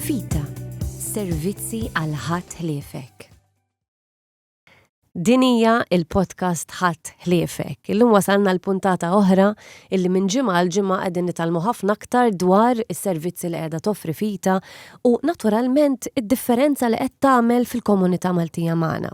Fita, servizzi għal ħadd ħliefek. Din hija il-podcast Ħadd Ħliefek. Illum wasalna l-puntata oħra illi minn ġimgħa għal ġimgħa qegħdin nitalmu ħafna aktar dwar is-servizzi li qiegħda toffri fita u naturalment id-differenza li qed tagħmel fil-komunità Maltija magħna.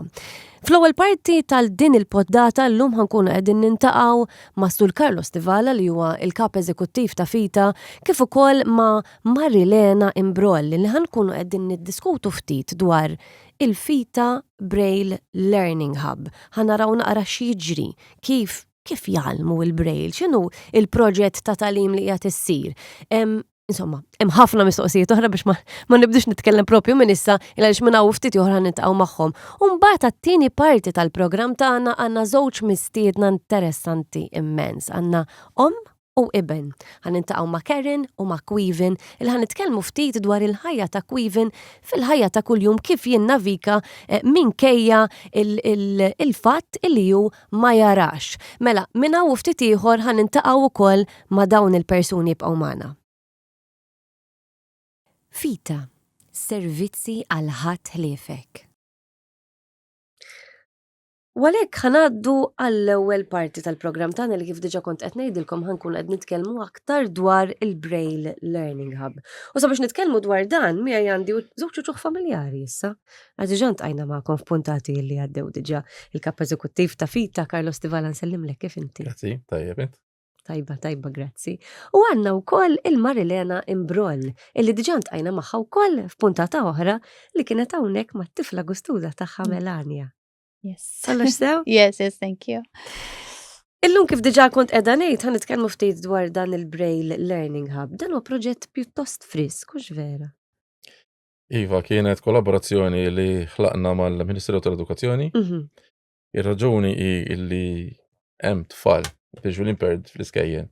Fl-ewwel parti tal-din il-poddata llum ħankunu qegħdin nintaqgħu ma' Sur Carlos Tivala li huwa il-Kap Eżekuttiv ta' Fita kif ukoll ma' Marilena Imbrogli li ħa nkunu qegħdin niddiskutu ftit dwar il-FITA Braille Learning Hub. Ħa naraw naqra x'jiġri, kif kif jgħallmu il-Braille, x'inhu il-proġett ta' tagħlim li qiegħed issir. Insomma, hemm ħafna mistoqsijiet oħra biex ma nibdux nitkellem propju minn issa il għaliex minn hawn ftit oħra nitqgħu magħhom. U mbagħad għat-tieni parti tal-programm tagħna għandna żewġ mistiedna interessanti immens. Għandna om u iben. Ħa nintaqgħu ma' Karen u ma' Quivin il ħa nitkellmu ftit dwar il-ħajja ta' Quivin fil-ħajja ta' kuljum kif jinnavika eh, minkejja il-fatt il li hu ma jarax. Mela, minna u ftit ieħor ħa nintaqgħu wkoll ma' dawn il-persuni jibqgħu magħna. Fita, servizzi għal ħadd ħliefek. U għalhekk ħanaddu għall-ewwel parti tal-programm tagħna li kif diġà kont qed ngħidilkom ħankun qed nitkellmu aktar dwar il-Braille Learning Hub. U sabiex nitkellmu dwar dan miegħi għandi żewġ uċuħ familjari issa. Għax diġà ntqajna magħkom f'puntati li għaddew diġà il-kap eżekuttiv ta' Fita Carlos Tivala nsellimlek kif inti. Grazzi, tajjeb int. Tajba, tajba, grazzi. U għanna u koll il-Marilena Imbroll, illi diġà ntqajna magħha wkoll f'puntata oħra li kienet hawnhekk mat-tifla gustuża tagħha Melania. Yes. Kollox sew? Yes, yes, thank you. Illum kif diġa kont edha ngħid ħan nitkellmu ftit dwar dan il-Braille Learning Hub. Dan huwa proġett pjuttost frisk, hux vera. Iva, kienet kollaborazzjoni li ħlaqna mal-Ministeru tal-Edukazzjoni. Mhm. Ir-raġuni hi illi hemm tfal biex l-imperd fl-iskejjen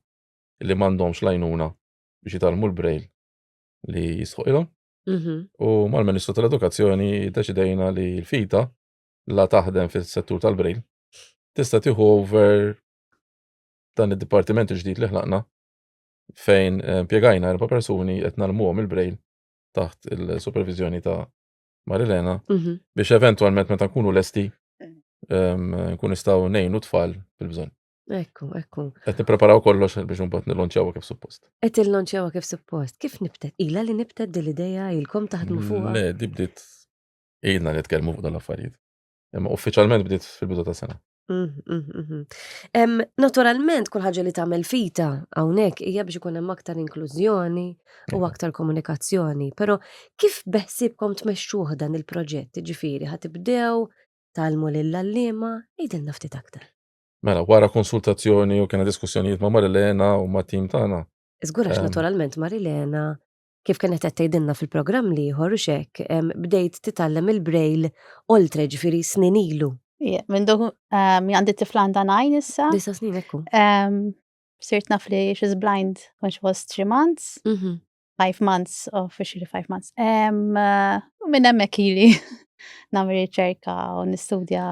li m'għandhomx lajnuna biex jitalmu l-braille li jisħoqilhom. Mhm. U mal-Ministru tal-Edukazzjoni deċidejna li l-fita la taħdem fis-settur tal-brejl tista' tieħu over dan id-dipartiment il-ġdid li ħlaqna fejn eh, impjegajna erba' persuni qed nalmuhom il-brejl taħt il-supervizjoni ta' Marilena Mhm. biex eventwalment meta nkunu lesti em, nkun nistgħu ngħinu tfal fil-bżonn. Ekku, ekku. Qed nippreparaw kollox biex imbagħad nilonċjawha kif suppost. Qed illonċjawha kif suppost. Kif nibtet? Ila li nibtet din l-idea ilkom taħdmu fuqha? Le, di bdiet ilna nitkellmu fuq dal-affarijiet. Imma uffiċjalment bdiet fil-bidu ta' sena. Mhm, mhm, mhm. Naturalment, kull ħaġa li tagħmel fita hawnhekk hija biex ikun hemm aktar inklużjoni u aktar komunikazzjoni. Però kif beħsibkom tmexxuh dan il-proġett? Ġifieri ħatibdew talmu lill-għalliema, jidilna ftit aktar. Mela, wara konsultazzjoni u kena diskussjonijiet ma' Marilena u ma' tim tagħna. Żgur għax naturalment Marilena kif kienet qed tgħidilna fil-programm l-ieħor u x'hekk, bdejt titgħallem il-Braille oltre ġifieri snin ilu. Ija, minn dok għandi tifla għandha nine issa. Disa' snin hekk hu. Sirt naf li she's blind when she was three months. Five months, officially five months. U minn hemmhekk ili nagħmel riċerka u nistudja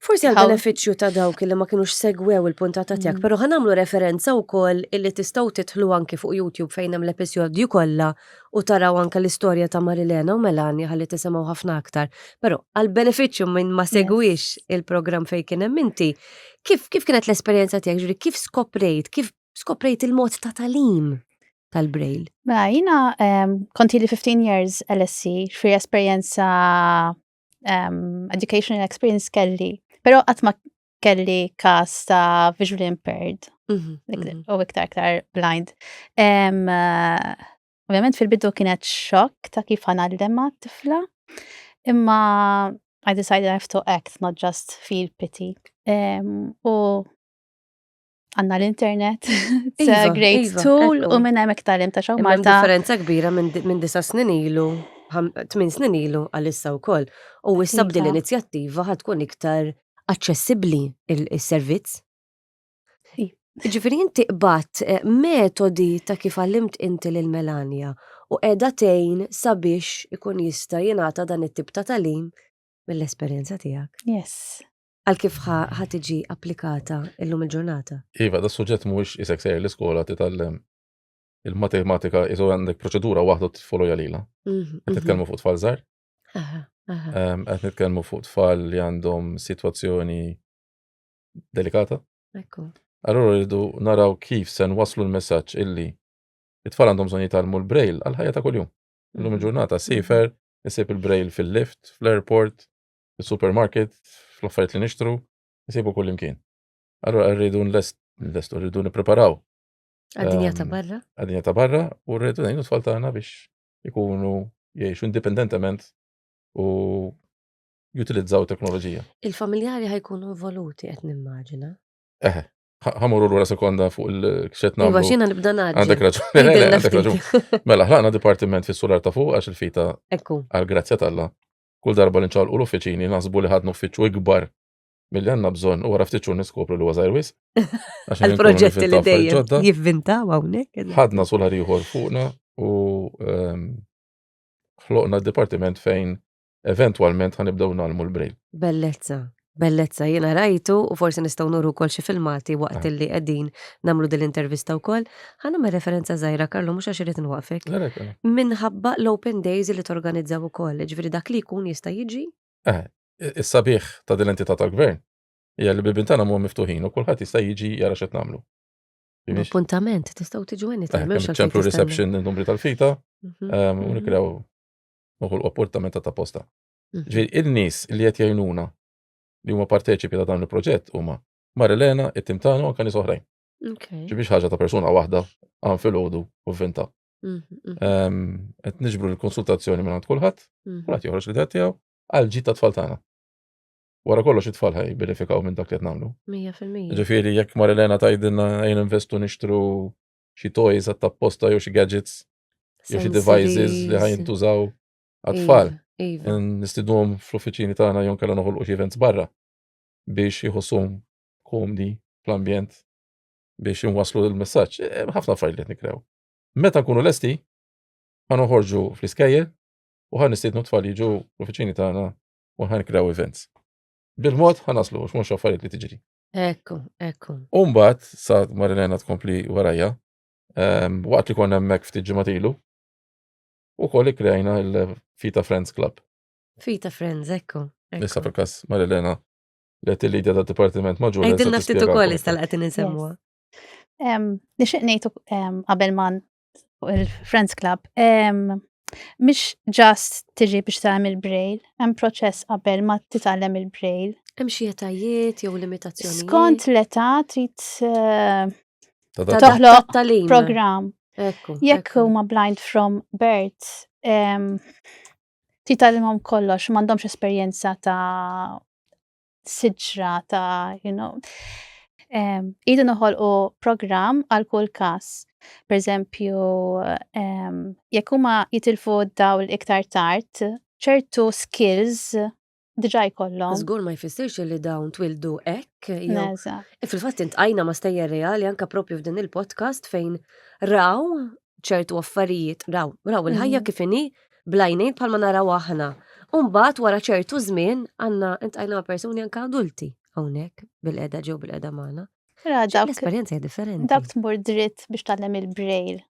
Forsi għal beneficju ta' dawk li ma kienux segwew il-puntata tiegħek, mm. però ħanamlu referenza wkoll illi tistgħu titħlu anki fuq YouTube fejn hemm l-episodju kollha u taraw anke l-istorja ta' Marilena u Melania ħalli tisimgħu ħafna aktar. Però għal beneficju minn ma segwix il-programm fejn kien hemm inti, kif kif kienet l-esperjenza tiegħek ġuri kif skoprejt, kif skoprejt il-mod ta' talim? tal-Braille? Mela, jina um, konti li 15 years LSC, xfri esperienza um, educational experience kelli, pero għatma kelli kas ta' visually impaired, mhm, mhm. u iktar iktar blind. Um, uh, Ovvjament fil-bidu kienet xokk ta' kif ħanallem ma' tifla, imma I decided I have to act, not just feel pity. Um, u għanna l-internet, it's a great tool, u minn hemm iktalim ta' xaw Malta. differenza kbira minn disa snin ilu, tmin snin ilu għal-issa u koll. U issa bdi l-inizjattiva ħatkun iktar aċċessibli il-servizz. Ġifiri inti qbat eh, metodi ta' kif għallimt inti lil Melania u edha tejn sabiex ikun jista' jingħata dan it-tip ta' talim mill-esperjenza tiegħek. Yes. Għal kif ħa tiġi applikata illum il-ġurnata? Iva, da suġġett mhuwiex isek sejr l-iskola titgħallem il-matematika iżu għandek proċedura waħda tfoloja lila. Mhm, mhm. Qed nitkellmu fuq tfal żgħar. Qed nitkellmu fuq tfal li għandhom sitwazzjoni delikata. Ekku. Allora rridu naraw kif se waslu l-messaġġ illi it-tfal għandhom bżonn jitgħallmu l-braille għal ħajja ta' kuljum. Illum mhm. il-ġurnata sifer, isib il-braille fil-lift, fl-airport, fis-supermarket, fl-affarijiet li nixtru, nsibu kull imkien. Allura rridu nlestu, rridu nippreparaw. Għad-dinja ta' ehm, barra? Għad-dinja ta' barra u rridu ngħinu tfal tagħna biex ikunu jgħixu indipendentement u jutilizzaw teknoloġija. Il-familjari ħajkunu involuti qed nimmaġina. Eħe, ħamurru l-ura sekonda fuq il-kxet namlu. Iva, xina nibda naġi. Għandek raġun. Mela, ħlaqna dipartiment fis sular ta' fuq għax il-fita għal-grazzja talla. Kull darba li nċalqu l-uffiċini naħsbu li ħadnu uffiċċju ikbar milli għandna bżonn u wara ftit xhur niskopru li huwa żgħir wisq. Il-proġetti li dejjem jivvintaw hawnhekk. Ħadna sular ieħor fuqna u ehm, ħloqna d-dipartiment fejn eventwalment ħanibdew nagħlmu l-brejl. Bellezza. Bellezza, jiena rajtu u forsi nistgħu nuru wkoll xi filmati waqt ah. illi qegħdin nagħmlu din l-intervista wkoll. Ħa nagħmel referenza żgħira Karlu mhux għax irid nwaqfek. Minħabba l-Open Days li torganizzaw ukoll, ġifieri dak li jkun jista' jiġi. Eh, is-sabiħ ta' din l-entità tal-gvern hija li bibin tagħna huma miftuħin u kulħadd jista' jiġi jara x'qed nagħmlu. Appuntament, tistgħu tiġu għenni ta' eh, ċemplu reception numri tal-fita, mhm, ehm, u mhm. nikrew uħul appuntament ta' posta. Mhm. Ġi il-nis li qed jgħinuna li huma parteċipi ta' dan il-proġett huma Marilena, it-tim tagħna u kani soħrajn. Ġi biex ħaġa ta' persuna waħda għan fil-ħodu u vinta. Mhm, mhm. Ehm, qed niġbru l-konsultazzjoni minn għand kulħadd, kulħadd joħroġ li tiegħu għal ġid ta' tfal tagħna. Wara kollox it-tfal ħaj benefikaw minn dak li qed nagħmlu. 100%. Ġifieri jekk Marilena tgħidilna jien investu nixtru xi toys għat-tapposta jew xi gadgets jew xi devices li ħaj jintużaw għat-tfal. Iva, iva. Nistidhom fl-uffiċini tagħna jew kellha noħolqu xi events barra biex jħossuhom komdi fl-ambjent biex inwaslu l-messaġġ. E, e, ħafna affarijiet li nikrew. Meta nkunu lesti, ħan uħorġu fl-iskejjel u ħan nistidnu tfal jiġu l-uffiċini tagħna u ħan krew events. Bil-mod ħan naslu, x'mhux affarijiet li tiġri. Ekku, ekku. Umbat, sa Marilena tkompli warajja, ehm, waqt li konna hemmhekk ftit ġimatilu, U koll ikkrejna il-Fita Friends Club. Fita Friends, ekku. Nissa fil-kas Marilena li għet il-lidja ta' Departiment Maġur. Għedin naftit u koll istal għatin nsemmuwa. Nixin nejtu qabel man il-Friends Club. Mish ġast tiġi biex tagħmel il-brail, hemm proċess qabel ma titgħallem il-brail. Hemm xi etajiet jew limitazzjoni. Skont l-età trid eh, Toħloq talim. Program. Jekk huma blind from birth, ti talimhom kollox, m'għandhomx esperjenza ta' siġra ta' you know. Idu noħolqu program għal kull każ. Per eżempju, jekk huma jitilfu dawl iktar tard, ċertu skills diġà jkollhom. Żgur ma jfissirx li dawn twildu hekk jew. E fil-fatt intqajna ma stejjer reali anka propju f'din il-podcast fejn raw ċertu affarijiet, raw, raw il-ħajja mm. kif inhi blajnejn bħalma naraw aħna. Umbat wara ċertu żmien għandna intqajna persuni anka adulti hawnhekk bil-qeda ġew bil-qeda magħna. L-esperjenza hija differenti. Dak tmur dritt biex tgħallem il-braille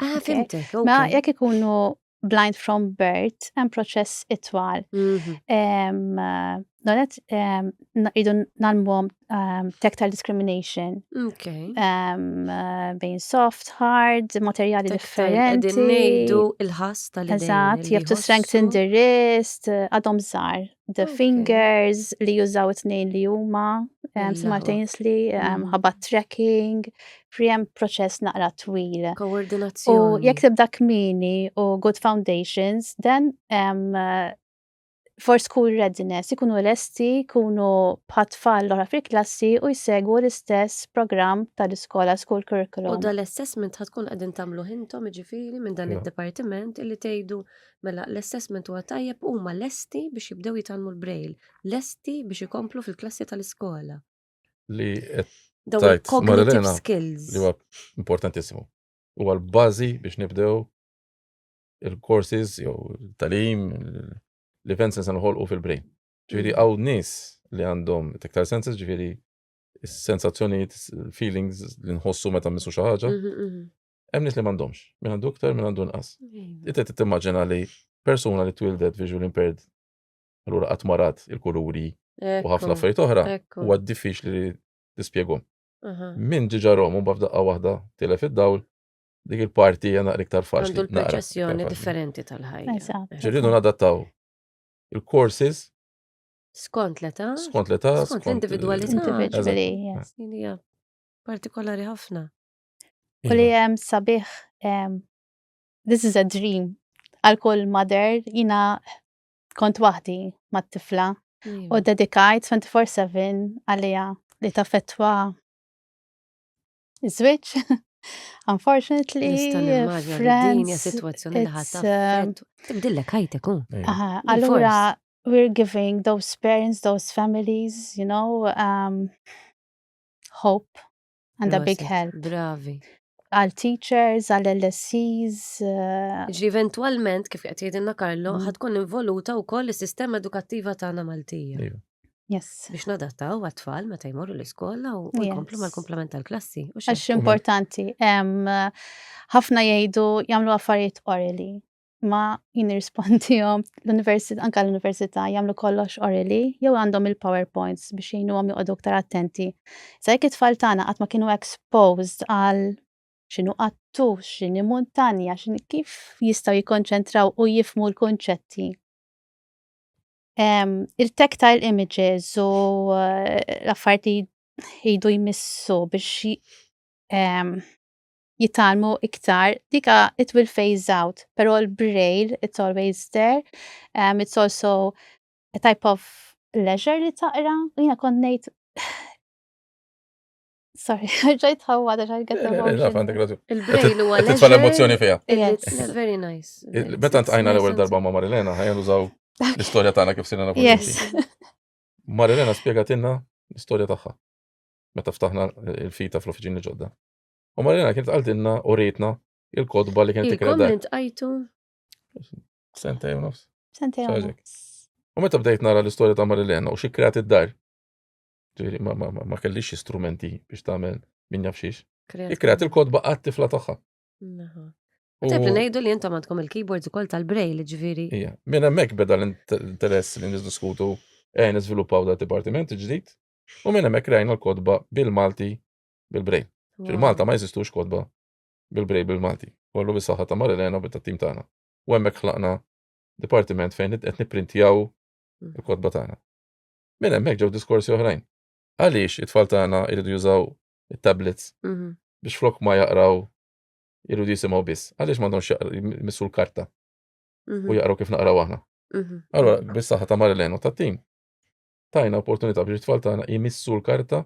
Ah, fimtek. Ma jekk ikunu blind from birth, hemm proċess itwal. Mhm. Donet, idu nalmwom tactile discrimination. Bejn soft, hard, materjali differenti. Din nejdu il-ħas tal-idejn. Eżat, you have to strengthen the wrist, għadhom zar. The okay. Fingers li jużaw it-tnejn li huma, um, simultaneously, um, ħabat mm. tracking, friem proċess naqra twil. Koordinazzjoni. U jekk tibda kmini u good foundations, then um, for school readiness, ikunu lesti, ikunu patfall l-ora fil-klassi u jsegwu l-istess program tal-iskola school curriculum. U dal-assessment ħatkun għadin tamlu hintom ġifiri minn dan il-departiment illi tejdu Mela, l-assessment huwa tajjeb, huma lesti biex jibdew jitgħallmu l-braille, lesti biex ikomplu fil-klassi tal-iskola. Li tajt Marilena li huwa importantissimu. Huwa l-bażi biex nibdew il-courses jew talim l-events li se noħolqu fil-brain. Ġifieri mm. hawn nies li għandhom tektar senses ġifieri sensazzjonijiet, feelings li nħossu meta missu xi ħaġa. Mhm, mhm. Hemm nies li m'għandhomx, min għandu iktar, min għandu nqas. Iva. Inti timmaġina li persuna li twildet visual impaired allura qatt marat il-kuluri u ħafna affarijiet oħra huwa diffiċli li tispjegom. Min ġiġa romu b'daqqa waħda tilef id-dawl dik il-parti hija naqra iktar faċli. Għandu l-perċessjoni differenti tal-ħajja. Ġirridu nadattaw il-courses skont l-età, skont l-età, skont l-individwalità. Partikolari ħafna. U li jem iva. sabiħ, um, this is a dream. Għal kull mother, jina kont wahdi ma tifla u iva. dedikajt 24-7 għalija li ta' fetwa iż-żwieġ. Unfortunately, friends, situazzjoni li ħatta. Um, Tibdillek ħajtek, Allura, we're giving those parents, those families, you know, um, hope And a big help. Bravi. Għal teachers, għal LSCs. Eh, Ġi eventualment, kif qed jgħidilna Karlo, mm. ħatkun involuta wkoll is-sistema edukattiva tagħna Maltija. Iva. Yes. Biex nadattaw għat-tfal meta jmorru l-iskola u jkomplu mal-komplement tal-klassi. Għax importanti. Ħafna jgħidu jagħmlu affarijiet orili. ma jien irrispondihom l-università anke l-università jagħmlu kollox orili jew għandhom il-PowerPoints biex jgħinuhom joqogħdu aktar attenti. Sa jekk it-tfal tagħna qatt ma kienu exposed għal x'inhu qattu, x'inhi muntanja, x'inhi kif jistgħu jikkonċentraw u jifmu l-kunċetti. Il-tactile images u eh, l-affarijiet li jdu jmissu biex jitgħallmu iktar, dika it will phase out, pero l-braille it's always there, um, it's also a type of leisure li taqra, u jina konnejt Sorry, ġajt ħawwa da ġajt għetta eh, Il-braille u għal. Titfa l-emozjoni fija. It's very nice. Meta għajna l-ewel darba ma' Marilena, għajna użaw l-istoria tagħna kif sinna nafu. Yes. Marilena spiegatilna l-istoria tagħha. Meta ftaħna il-fita fl-ofiġini ġodda. U Marina kienet għaltinna u rejtna il-kodba li kienet tikra. Il-komment għajtu. Sentej u nofs. Sentej u nofs. U meta bdejt nara l-istorja ta' Marilena u xikrat id-dar. Ġiri, ma kellix strumenti biex tagħmel min jafxiex. Ikrat il-kodba għat-tifla tagħha. Tibli ngħidu li intom għandkom il-keyboards ukoll tal-braille, ġifieri. Ija, minn hemmhekk beda l-interess li niddiskutu eh niżviluppaw da dipartiment ġdid u minn hemmhekk rajna l-kodba bil-Malti bil-brej. Fil-Malta ma jeżistux kotba bil-brej bil-Malti. Kollu bis-saħħa ta' Marilena u tat-tim tagħna. U hemmhekk ħlaqna dipartiment fejn qed nipprintjaw mm. il-kotba tagħna. Minn hemmhekk ġew diskorsi oħrajn. Għaliex it-tfal tagħna jridu jużaw it-tablets mhm. biex flok ma jaqraw jridu jisimgħu biss. Għaliex m'għandhomx jmissu l-karta u mhm. jaqraw kif naqraw aħna. Mhm. Allora, bis-saħħa ta' Marilena u tat-tim tajna opportunità biex it-tfal tagħna jmissu l-karta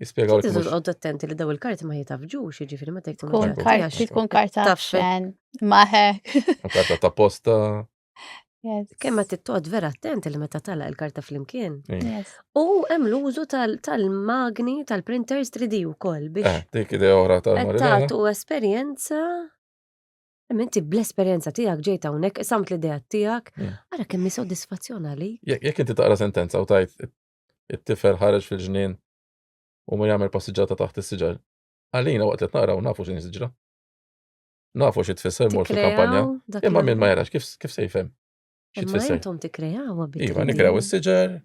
Jispjegaw li. Tiżu għoddu attenti li daw il-karti ma jitafġux, ġifiri ma tektu. Kun karti, kun karta tafxen, maħek. Karta ta' posta. Kemm ma tittoqgħod vera attenti li meta tala il-karta flimkien. U hemm l-użu tal-magni tal-printers 3D wkoll biex. Eh, dik idea oħra tal-Tagħtu esperjenza Minti bl-esperienza tijak ġejta unek, samt l-idea tijak, għara kemmi soddisfazzjon għalik. Jek inti taqra sentenza u tajt It-tifel ħareġ fil-ġnien u ma jagħmel passiġġata taħt is-siġar. Għalina waqt li naraw nafu x'in siġra. Nafu xi tfisser mor fil-kampanja, imma min ma jarax kif kif se jfhem. Xi tfisser. Intom tikkrejaw Iva, nikkrew is-siġar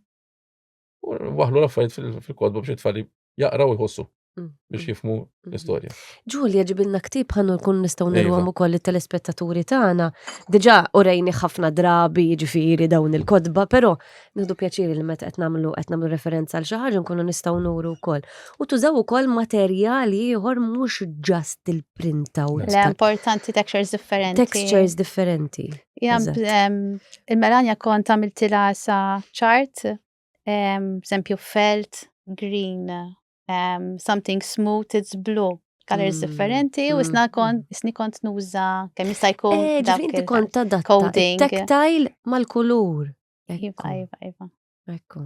u waħlu l-affarijiet fil-kodba biex it-tfal jaqraw jħossu mm, biex mm, jifmu mm. l-istorja. Ġulja ġibilna ktib ħannu nkun nistgħu iva. nirwam ukoll it-telespettaturi tagħna. Diġà urejni ħafna drabi ġifieri dawn il-kodba, però nieħdu pjaċiri li meta qed nagħmlu qed nagħmlu referenza għal xi ħaġa nkunu nistgħu nuru wkoll. U tużaw ukoll materjali ieħor mhux ġast il-printaw. Le importanti textures differenti. Textures differenti. Il-melanja kont għamiltilha sa chart Eżempju, felt, green, something smooth, it's blue colors mm. differenti u mm. isna kont mm. isni kont nuża kemm jista' jkun eh, dak inti kont tadatta tactile mal-kulur. Iva, iva, iva. Ekku.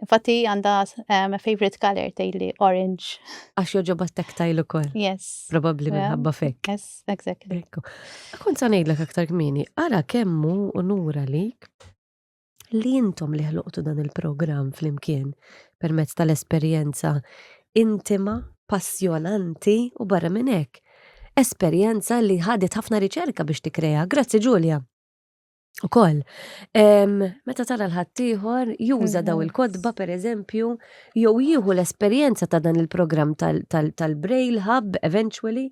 Infatti għanda um, favorite color tejli orange. Għax joġoba tactile u koll. Yes. Probabli minħabba fek. Yes, exactly. Ekku. Kont sa nejdlek aktar kmini, għara kemmu u nura lik li intom li ħloqtu dan il-programm flimkien permezz tal-esperjenza intima, passjonanti u barra minn hekk. Esperjenza li ħadet ħafna riċerka biex tikkrea. Grazzi Ġulja. U koll, meta tara l-ħattijħor, juża daw mhm. il-kodba per eżempju, jew jieħu l-esperienza ta' dan il-program tal-Braille Hub eventually,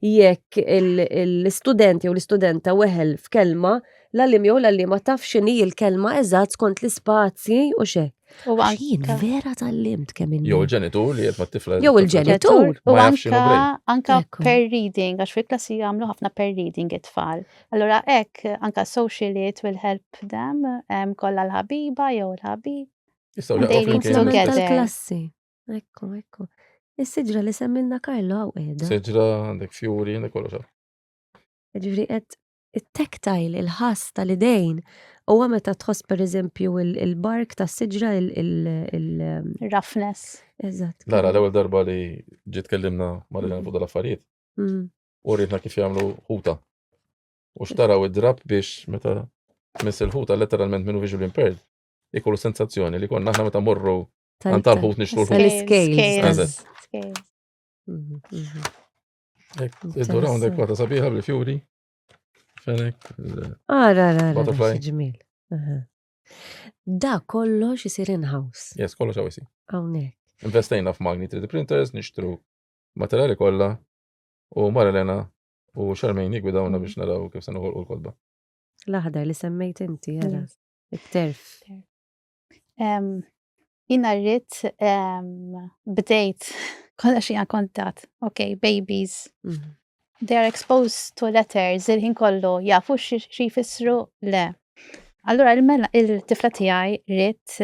Jekk l-istudent jew l-istudenta weħel f'kelma, l-għallim jew l-għallima taf x'inhi l-kelma eżatt skont l-ispazji u xek. U għajin, vera tal-limt kemm inni. Jew il-ġenitur li jgħetma t-tifla. Jew il-ġenitur. U anka per reading, għax fil-klassi jgħamlu ħafna per reading it-tfal. Allora ek, anka social it will help them, kolla l-ħabiba jew l-ħabib. Jistaw l-ħabib. Jistaw l-ħabib. Ekku, ekku. Is-siġra li semmilna Karlo għaw edha. Siġra, għandek fjuri, għandek kollox. Ġifri, għed it-tektajl, il-ħas tal-idejn, u għame ta' tħoss per eżempju il-bark ta' siġra il-rafnes. Um, Eżat. Lara, l-ewel darba li ġit kellimna marrilan fuq dal-affarijiet. Mm. U rritna kif jgħamlu ħuta. U xtaraw id-drab biex meta mis il-ħuta letteralment minnu visual impaired, ikollu sensazzjoni li konna aħna meta morru Għan tal-ħut nixtu l-ħut. Tal-scales. Mhm, mhm. Id-dura eh, għandek wata sabiħa bil-fjuri. Fenek. Ara, ara, ara, ġmil. Da kollox jisir in-house. Yes, kollox għawisi. Għawnek. Investejna f'magni 3D printers, nixtru materjali kolla u Marilena u xarmejn jgwidawna mhm. biex naraw kif se noħolqu l-kodba. L-aħdar li semmejt inti, għara, it-terf. Jina rrit bdejt kolla xie kontat, ok, babies. Mhm. They are exposed to letters, il-ħin kollu, jafu xie jfissru le. Allura il-mela il-tifla tijaj rrit,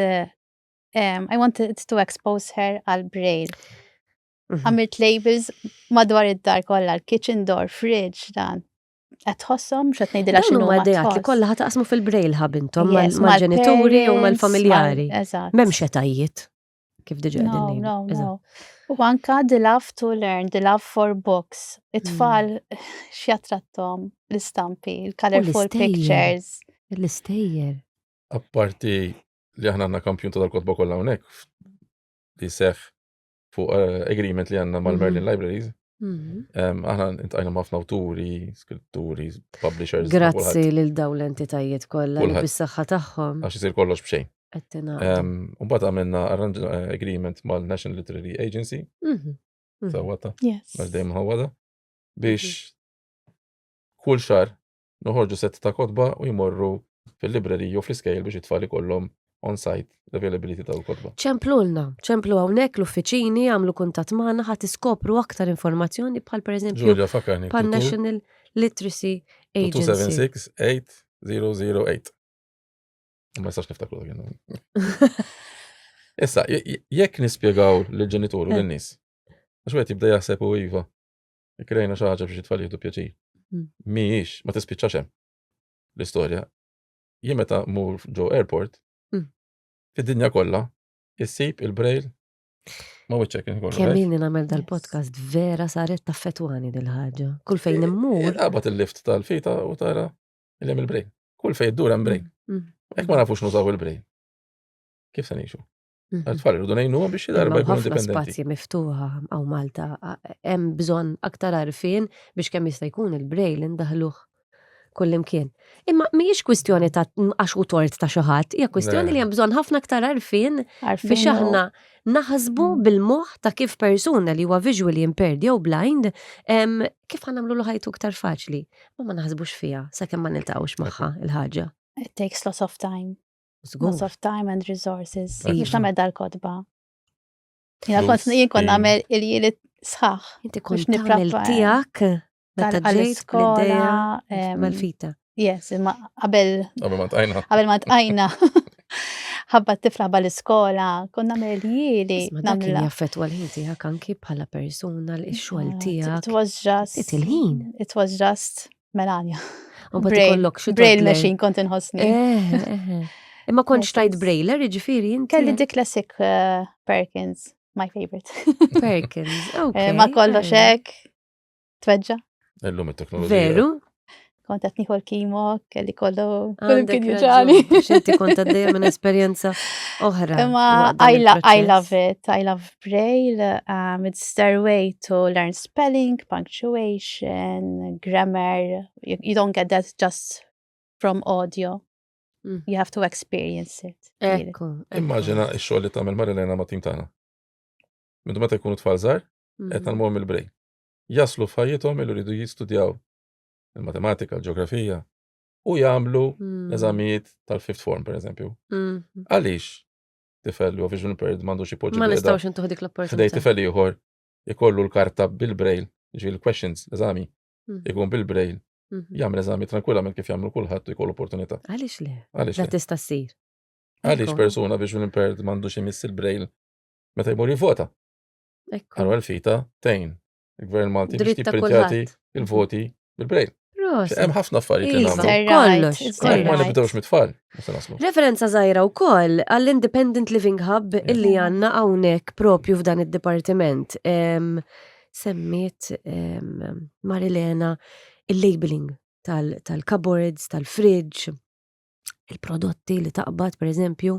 I wanted to expose her għal braille. Mhm. Għamilt labels madwar id-dar kolla, l-kitchen door, fridge, dan. qed tħossom x'qed ngħidilha x'inhu ma dejat li kollha taqsmu fil-brail ħab intom mal-ġenituri u mal-familjari. M'hemmx etajiet kif diġà qegħdin ngħidu. U anka the love to learn, the love for books. It-tfal mm. x'jattrattom l-istampi, il-colorful pictures. L-istejjer. Apparti li aħna għandna kampjun tal-kotba kollha hawnhekk li seħ fuq eh, agreement li għanna mal-Merlin mhm. Libraries. Mhm. Aħna intajna ħafna awturi, skritturi, publishers. Grazzi lil dawn l-entitajiet kollha li bis-saħħa tagħhom. Għax isir kollox b'xejn. Mbagħad għamilna eh, agreement mal-National Literary Agency. Mhm. Sawata. Għax dejjem ħawada. Biex kull xar noħorġu sett ta' kotba u jmorru fil-librerija u fl-iskejjel biex it-tfal ikollhom on-site l-availability ta' l-kotba. Ċemplulna, ċemplu hawnhekk l-uffiċini, għamlu kuntatt magħna ħadd iskopru aktar informazzjoni bħal pereżempju pan National Literacy Agency. 276 8008. Ma jistax niftakru dak Issa, jekk nispjegaw l-ġenitur u l-nis, għax għet jibda jaħseb u iva, Krejna xi ħaġa biex it-tfal jieħdu pjaċir. Hmm. Mhijiex, ma tispiċċax hemm l-istorja. Jien meta mur ġo airport, hmm. fid-dinja kollha, issib il-brejl Ma wiċċek kien kollu. Kemm inni nagħmel dal-podcast vera saret ta' fetwani dil-ħaġa. Kull fejn eh, immur. Eh, Qabat il-lift tal-fita u tara il-jem il-brejn. Kull fejn dur hemm brejn. Hmm. Hekk ma nafux nużaw il-brejn. Kif se ngħixu? Mhm. Għatfall, rridu nejnu biex jidarba jkun indipendenti. Spazji miftuħa għaw Malta, hemm bżon aktar għarfin biex kemm jista' jkun il-brejl indaħluħ kullimkien. Imma mhijiex kwistjoni ta' għax u tort ta' xi ħadd, hija kwistjoni li hemm bżonn ħafna aktar għarfin biex aħna naħsbu mm. bil-moħħ ta' kif persuna li huwa visually impaired jew blind kif ħanamlu l ħajtu aktar faċli. Ma ma naħsbux fiha sakemm ma niltaqgħux magħha il-ħaġa. It takes lots of time. Loss of time and resources. Mux tamed dal-kodba. Jina kont jien kon namel il-jili sħax. Inti kont namel tijak. Tal-iskola. Mal-fita. Yes, imma qabel. Qabel ma tqajna. Qabel ma tqajna. ħabba tifla bal iskola konna merjili. Namlu jaffet għal-ħin tijak anki bħala persona l-xol tijak. It was just. It il-ħin. It was just. Melania. Braille machine kont inħossni. Eh, eh, eh. Imma kontx tajt Braille, ġifiri inti. Kelli dik classic Perkins, my favorite. Perkins, ok. Ma kollo xek, tweġġa. Illum it-teknoloġija. Veru? Kont qed nieħu l-kimo, kelli kollu kull kien jiġani. Xinti kont għaddejja minn esperjenza oħra. Imma I love it, I love Braille, um, stairway to learn spelling, punctuation, grammar. You, you don't get that just from audio. Mm. You have to experience it. Ekku. Immaġina x-xogħol li tagħmel Marilena ma' tim tagħna. Mintu meta jkunu tfal żgħar, mm. qed nagħmluhom il-brej. Jaslu f'ħajjithom li rridu jistudjaw il-matematika, l-ġeografija, u jagħmlu mm. eżamijiet tal-fifth form, per eżempju. Mm-hmm. Għaliex? tifel jew vision impaired m'għandux ipoġġi. Ma nistgħux intuħ dik l-opportunità. Ħdej tifel ieħor ikollu l-karta bil-brail, ġi l-questions, l-eżami, mhm. ikun bil-brail. Mhm. Jagħmel eżami tranquillament kif jagħmlu kulħadd u jkollu opportunità. Għaliex le? Għaliex le? tista' ssir. Għaliex persuna vision impaired m'għandux imiss il-brail meta jmur jivvota. Għallu għal-fita tejn. Il-Gvern Malti biex jipprintjati il-voti bil-brejl. Hemm ħafna affarijiet li iva, nagħmlu. Kollox. Ma nibdewx mit-tfal. Referenza żgħira wkoll għall-Independent Living Hub illi għandna hawnhekk propju f'dan id-dipartiment. Semmiet Marilena il-labeling tal-cupboards, tal-fridge, il-prodotti li taqbad, per eżempju,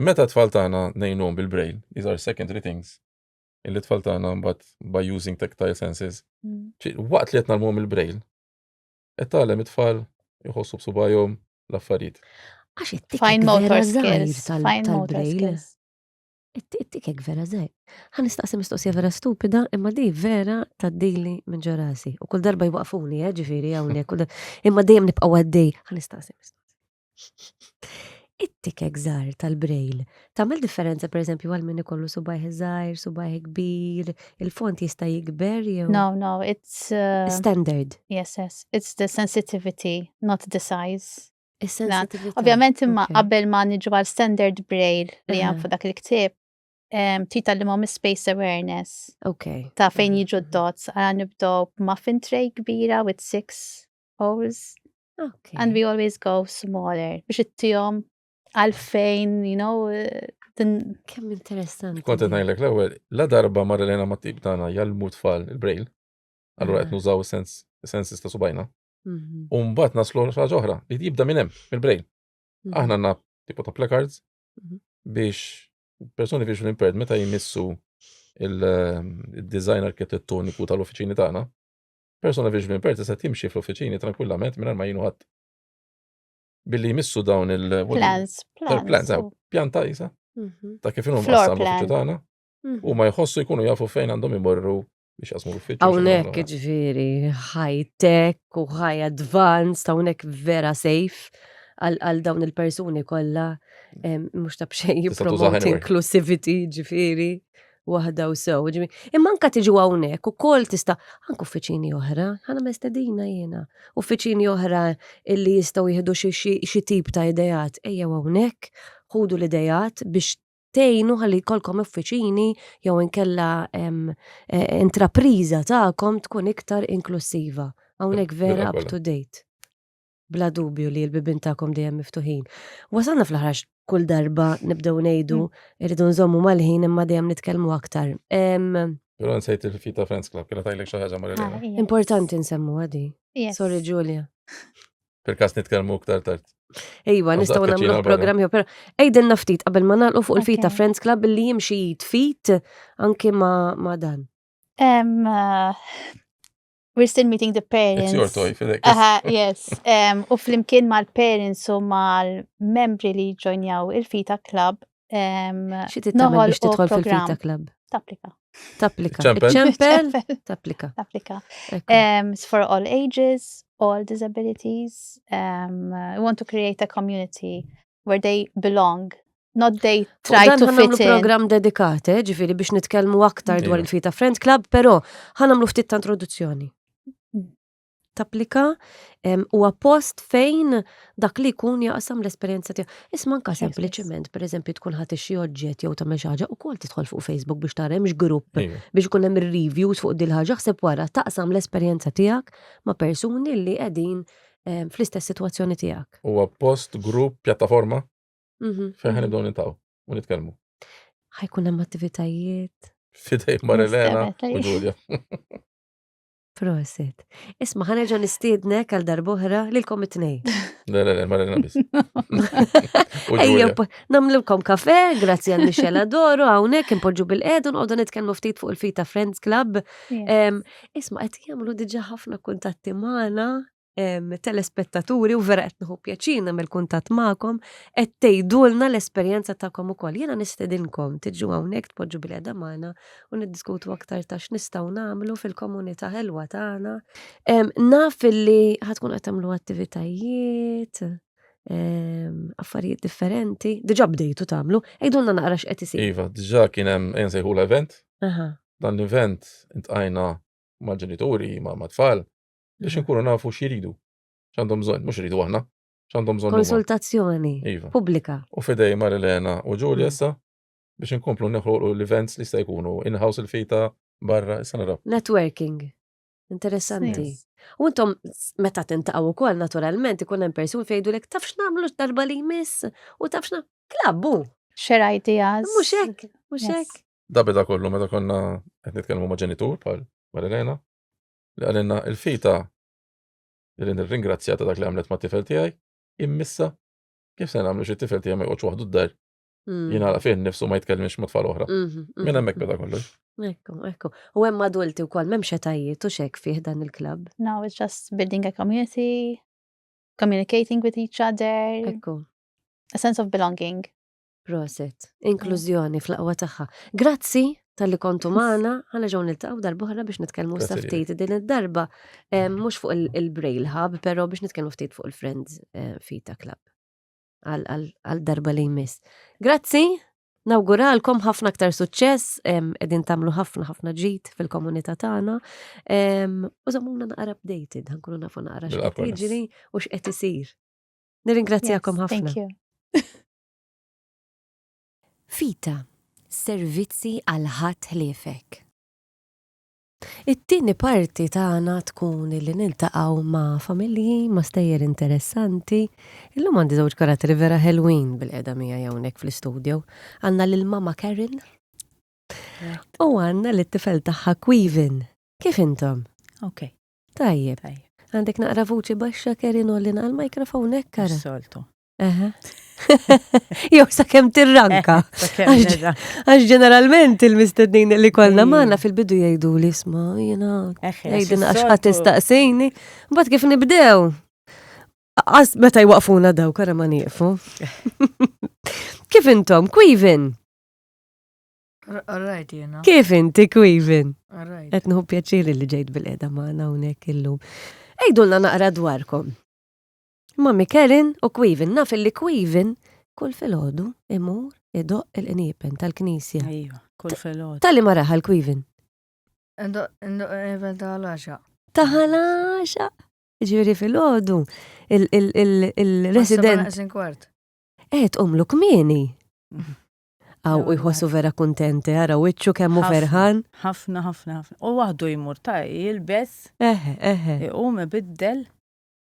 Meta tfal tagħna ngħinuhom bil-braille, these are secondary things, illi tfal tagħna mbagħad by using tactile senses, mm. waqt li qed nagħmluhom il-braille, qed tagħlem it-tfal jħossu b'subajhom l-affarijiet. Għax it-tikek vera zaħir tal-braille. It-tikek vera zaħir. Għan istaqsi mistoqsija vera stupida, imma di vera taddili minn ġorasi. U kull darba jwaqfuni, eh, ġifiri għawni, imma dejjem nibqaw għaddej. Għan istaqsi mistoqsija. It-tikek żgħar tal-brejl tagħmel differenza pereżempju għal min ikollu subajh żgħir, subajh kbir, il-font jista' jikber jew. No, no, it's uh, standard. Yes, yes, it's the sensitivity, not the size. Ovvjament imma qabel ma niġu għal standard braille li hemm fuq dak il-ktieb, tita li mom space awareness. Ok. Ta' fejn jiġu d-dots, għan nibdow muffin tray kbira with six holes. Okay. And we always go smaller biex it-tijom għalfejn, you know, Kemm interessanti. Kont qed ngħidlek l-ewwel, la darba marri lejna ma' tip tagħna jallmu tfal il-brail, allura qed nużaw sens sensis ta' subajna. Mhm. U mbagħad naslu ħaġa oħra li jibda minn hemm, mill-brail. Mhm. Aħna għandna tipo ta' placards mhm. biex persuni biex l-impaired meta jmissu il-design ehm, arkitettoniku tal-uffiċini tagħna, Persuna viċin minn Perti set jimxi fl-uffiċini tranquillament mingħajr ma jinu ħadd. Billi jmissu dawn il- Plans, plans. plans, eh, pjanta jisa. Mhm. Ta' kif inhom Floor qassam plan. l-uffiċċju tagħna. Mhm. U ma jħossu jkunu jafu fejn għandhom imorru biex jaqsmu l-uffiċċju. Hawnhekk xi ġifieri high tech u high advanced, hawnhekk vera safe għal għal dawn il-persuni kollha em, mhux ta' bxejn Tista' tużaha jippromote anywhere. inclusivity ġifieri waħda u sew. Imma anka tiġu hawnhekk ukoll tista' anke uffiċini oħra, ħana mestedina jiena. Uffiċini oħra illi jistgħu jieħdu xi tip ta' idejat ejja hawnhekk, ħudu l-idejat biex tgħinu ħalli jkollkom uffiċini jew inkella e, intrapriża tagħkom tkun iktar inklusiva. Hawnhekk vera up to date. bla dubju li l-bibin tagħkom dejjem miftuħin. Wasalna fl-ħrax kull darba nibdew ngħidu mm. irridu nżommu mal-ħin imma dejjem nitkellmu aktar. Pero nsejt il-fita Friends Club, kena tajlek xaħġa marri. Ah, Importanti nsemmu għadi. Sorry Julia. Perkas nitkelmu ktar tard. Ejwa, nistaw namlu programmi, pero ejden naftit qabel ma nalqu fuq il-fita Friends Club li jimxi jitfit anki ma dan. Eh, We're still meeting the parents. It's your toy, Fidek. Aha, yes. Um, u flimkien mal-parents u mal-membri li ġojnjaw il-Fita Club. Um, Xi tittamel biex tidħol fil-Fita Club? Taplika. Taplika. Ċempel? Taplika. Taplika. Um, it's for all ages, all disabilities. Um, we want to create a community where they belong not they try to fit in. program dedikat, eh, ġifiri biex nitkelmu aktar dwar il-Fita Friend Club, pero ħanamlu ftit ta' introduzzjoni. Mm. Tapplika u post fejn dak li kun jaqsam l-esperienza tiegħu. Isma' anka sempliċement, per eżempju, tkun ħadd xi oġġett jew tagħmel xi ħaġa ukoll tidħol fuq Facebook biex tara hemmx grupp biex ikun hemm reviews fuq dil ħaġa ħseb wara taqsam l-esperjenza tiegħek ma' persuni li qegħdin fl-istess sitwazzjoni tiegħek. Huwa post, grupp, pjattaforma? Mhm. Fejn ħan nibdew nintaw u nitkellmu. Ħajkun hemm attivitajiet. Fidej Marilena Nistabat, u Ġulja. Prosit. Isma' ħanerġa' nistiednek għal darbohra lilkom it-tnejn. Le, le, le, Marilena biss. U Ejja, Ġulja. po- namlilkom kafe, grazzi għal Michelle Adoro, hawnhekk impoġġu bil-qed u nqogħdu nitkellmu ftit fuq il-Fita Friends Club. Em, Isma' qed jagħmlu diġà ħafna kuntatti magħna telespettaturi u vera qed nħu pjaċina mill kuntatt magħkom qed tgħidulna l-esperjenza tagħkom ukoll. Jiena nistedinkom tiġu hawnhekk tpoġġu bil qeda magħna u niddiskutu aktar ta' x'nistgħu nagħmlu fil-komunità ħelwa tagħna. Naf li ħatkun qed tagħmlu attivitajiet, affarijiet differenti, diġà bdejtu tagħmlu, għidulna naqra x'qed isir. Iva, diġà kien hemm ejnsejħu l-event. Dan l-event intqajna mal-ġenituri, ma' tfal biex mm. inkunu nafu x'jridu, x'għandhom bżonn, mhux iridu aħna, x'għandhom bżonn. Konsultazzjoni iva. pubblika. U fidej Marilena u Ġulja mm. issa biex inkomplu neħolqu l-events li sta jkunu in-house il-fita barra issa naraw. Networking. Interessanti. U intom meta tintaqgħu wkoll naturalment ikun hemm persun fejdu lek tafx nagħmlu darba li jmiss u tafx klabbu. Xer ideas. Mhux hekk, mhux hekk. Da beda kollu meta konna qed nitkellmu ma' ġenitur bħal Marilena li qalilna il-fita li nirringrazzja ta' dak li għamlet ma' tifel tiegħi, immissa kif se nagħmlu xi tifel tiegħi ma jqgħodx waħdu d-dar. Mm. Jien għala fih nifsu ma jitkellmx ma' tfal oħra. Mhm, mhm. Minn hemmhekk beda kollox. Ekku, ekku. U hemm adulti wkoll m'hemm xetajiet u xek fih dan il-klabb. Now it's just building a community, communicating with each other, Ekku. a sense of belonging. Proset. Inklużjoni fl-aqwa tagħha. Grazzi tal-li kontu maħna, ħana ġon il-taqaw darbohra biex nitkelmu ftit din id-darba, eh, mux fuq il-Braille Hub, pero biex nitkelmu ftit fuq il-Friends eh, Fita Club. Għal-darba li jmiss. Grazzi, nawguralkom ħafna aktar suċċess, edin tamlu ħafna ħafna ġit fil-komunità tagħna. U zamuna naqra updated, ħankunu nafu naqra x'qed jiġri u x'qed isir. Nirringrazzjakom ħafna. Vita, servizzi għal ħadd ħliefek. It-tieni parti tagħna tkun li niltaqgħu ma' familji, ma' stejjer interessanti. Illum għandi żewġ karatteri vera ħelwin bil-qeda miegħi hawnhekk fl-istudju. Għandna lil mama Karen u għandna lit tifel tagħha Quivin. Kif intom? Ok. Tajjeb. Għandek naqra vuċi baxxa Karen u l-inqal mikrofon hekk kara. Soltu. Jew sa kem tirranka. Għax ġeneralment il-mistednin li kollna mm. maħna fil-bidu jgħidu li sma, jena, jgħidin għax ħat istaqsini. Bat kif nibdew? Għas meta jwaqfuna daw, kara ma nieqfu. Kif intom, kwivin? Alright, jena. Kif inti, kwivin? Alright. Etnħu pjaċiri li ġejt bil-edha maħna unek illum. Ejdulna naqra dwarkom. Ma Mikerin u Kwivin, naf li Kwivin kull filgħodu imur idoq il-qniepen tal-knisja. Ejwa, kull filgħodu. Tali ma raħal Kwivin. Idoq il-qniepen tal-għaxa. Taħal-għaxa. Ġifieri filgħodu il-resident. Qed umlu kmieni. Aw u jħossu vera kuntenti, ara wiċċu kemm hu ferħan. Ħafna, ħafna, ħafna. U waħdu jmur ta' jilbes. Eħe, eħe. Iqum ibiddel.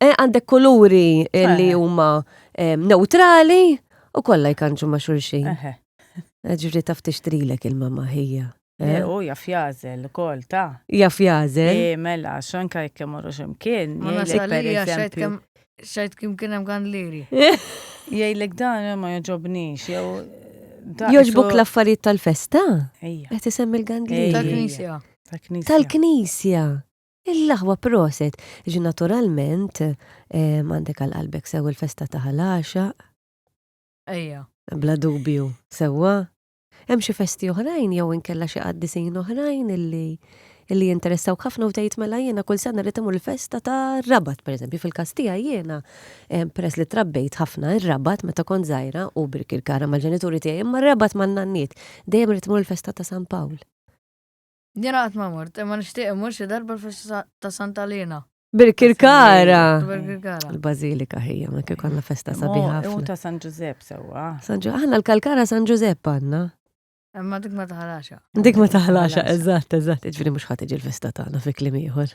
Eh, għandek kuluri eh, li eh. huma neutrali u kollha jkanġu ma' xulxin. Ġifri taf tixtrilek il-mama ħija. U jaf jazel, kol ta' Jaf jazel. Mela, xanka jekk morru ximkien. Ma nasalija xajt kim kienem għan liri. Jajlek dan ma joġobnix, jew. Joġbuk l-affarijiet tal-festa? Ejja. Għet isem il-gandliri. Tal-knisja. Tal-knisja. L-aħwa proset, ġi naturalment għandek għal qalbek sew il-festa ta' Ħal Għaxaq. Ejja. Bla dubju, sewwa. Hemm xi festi oħrajn jew inkella xi qaddisin oħrajn illi illi jinteressawk ħafna u tgħid mela jiena kull sena rrid imur il-festa ta' Rabat, pereżempju, fil-każ tiegħi jiena peress li trabbejt ħafna ir-Rabat meta kont żgħira u Birkirkara mal-ġenituri tiegħi imma r-Rabat man-nanniet. Dejjem rrid imur il-festa ta' San Pawl. Jien qatt ma mort, imma nixtieq imur xi darba l-festa ta' Santa Lina. Bil-Kirkara. Bil-Kirkara. Il-Bażilika ħija, ma kif konna festa sabiħa Mo, ħafna. ta' San Ġużepp sewwa. San Ġu- Aħna l-Kalkara San Ġużepp għandna. Imma dik ma taħlaxa. Dik ma taħlaxa, eżatt, eżatt. Ġifieri mhux ħadd iġi l-festa tagħna fi kliem ieħor.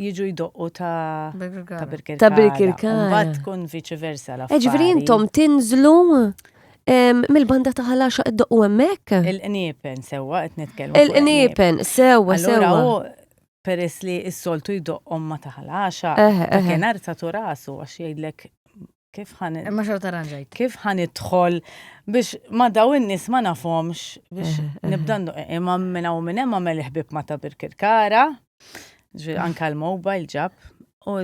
jiġu jdoqqu ta' Birkirkara. Ta' Birkirkara. Mbagħad tkun viċi versa la. Eh, ġifieri intom tinżlu mill-banda ta' ħalaxa id-doqqu hemmhekk? Il-qniepen sewwa qed nitkellmu. Il-qniepen sewwa sewwa. Allura peress li s-soltu jdoqqhom ma taħlaxa, kien arta tu rasu għax jgħidlek kif ħan. Imma xorta ranġajt. Kif ħan idħol biex ma daw in-nies ma nafhomx biex eh, eh. nibda eh, imma minn hawn minn hemm għamel ħbib ma ta' Birkirkara, ġifieri anke l-mobile ġab u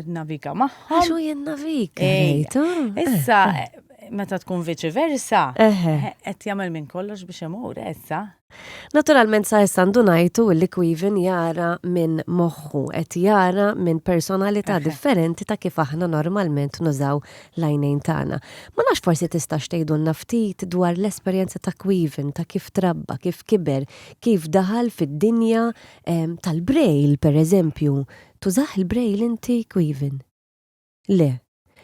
navika magħhom. Għaxu jien navika. Issa meta tkun viċi versa, qed jagħmel minn kollox biex imur issa. Naturalment sa issa ndunajtu li Quivin jara minn moħħu, qed jara minn personalità differenti ta' kif aħna normalment nużaw l-għajnejn tagħna. Ma nafx forsi tista' xtejdulna ftit dwar l-esperjenza ta' Quivin, ta' kif trabba, kif kiber, kif daħal fid-dinja ehm, tal-Braille, pereżempju. Tużah il-Braille inti, Quivin? Le.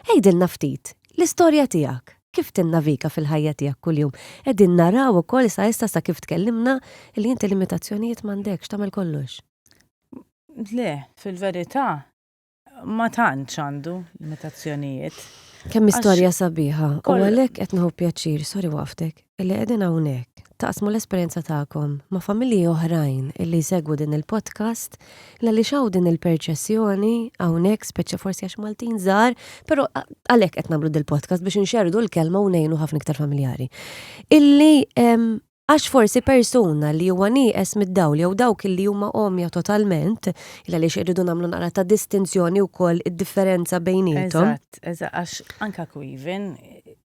Għidilna ftit, l-istorja tiegħek, kif tinnaviga fil-ħajja tiegħek kuljum. Qegħdin naraw ukoll sa issa sa kif tkellimna li inti limitazzjonijiet m'għandekx tagħmel kollox. Le, fil-verità ma tantx għandu limitazzjonijiet. Kemm istorja sabiħa, u għalhekk qed nħu pjaċir, sorry waqftek. illi qegħdin hawnhekk taqsmu l-esperjenza tagħkom ma' familji oħrajn illi jsegwu din il-podcast għaliex hawn din il-perċessjoni hawnhekk speċja forsi għax Maltin żgħar, però għalhekk qed nagħmlu din il-podcast biex inxerdu l-kelma u ngħinu ħafna iktar familjari. Illi Għax forsi persuna li huwa nieqes mid-dawl jew dawk li huma omja totalment, il għaliex irridu nagħmlu naqra ta' distinzjoni wkoll id-differenza bejnietom. Eżatt, eżatt, għax anka kwiven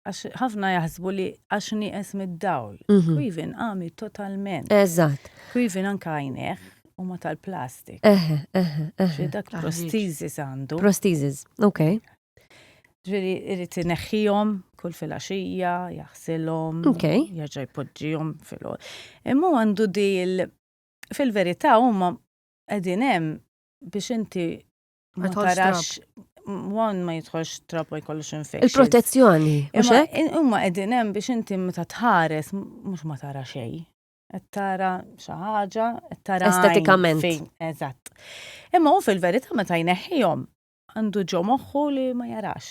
Għax ħafna jaħsbu li għax nieqes mid-dawl. Mhm. Quiven għami totalment. Eżatt. Quiven anka għajneħ u ma tal-plastik. Eħe, eħe, eħe. Xi dak Taħriġ. prostizis għandu. Prostizis, ok. Ġveri irrit neħħijom kull fil-axija, jaħsilom, Ok. jaġa jpoġġijom fil Imma hu għandu dil fil-verità huma qegħdin hemm biex inti Ma tarax Wan ma jitħolx trap u jkollux infection. Il-protezzjoni. Imma qegħdin hemm biex inti meta tħares mhux ma tara xejn. Qed tara xi ħaġa, qed tara estetikament. Eżatt. Imma hu fil-verità meta jneħħihom għandu ġo moħħu li ma jarax.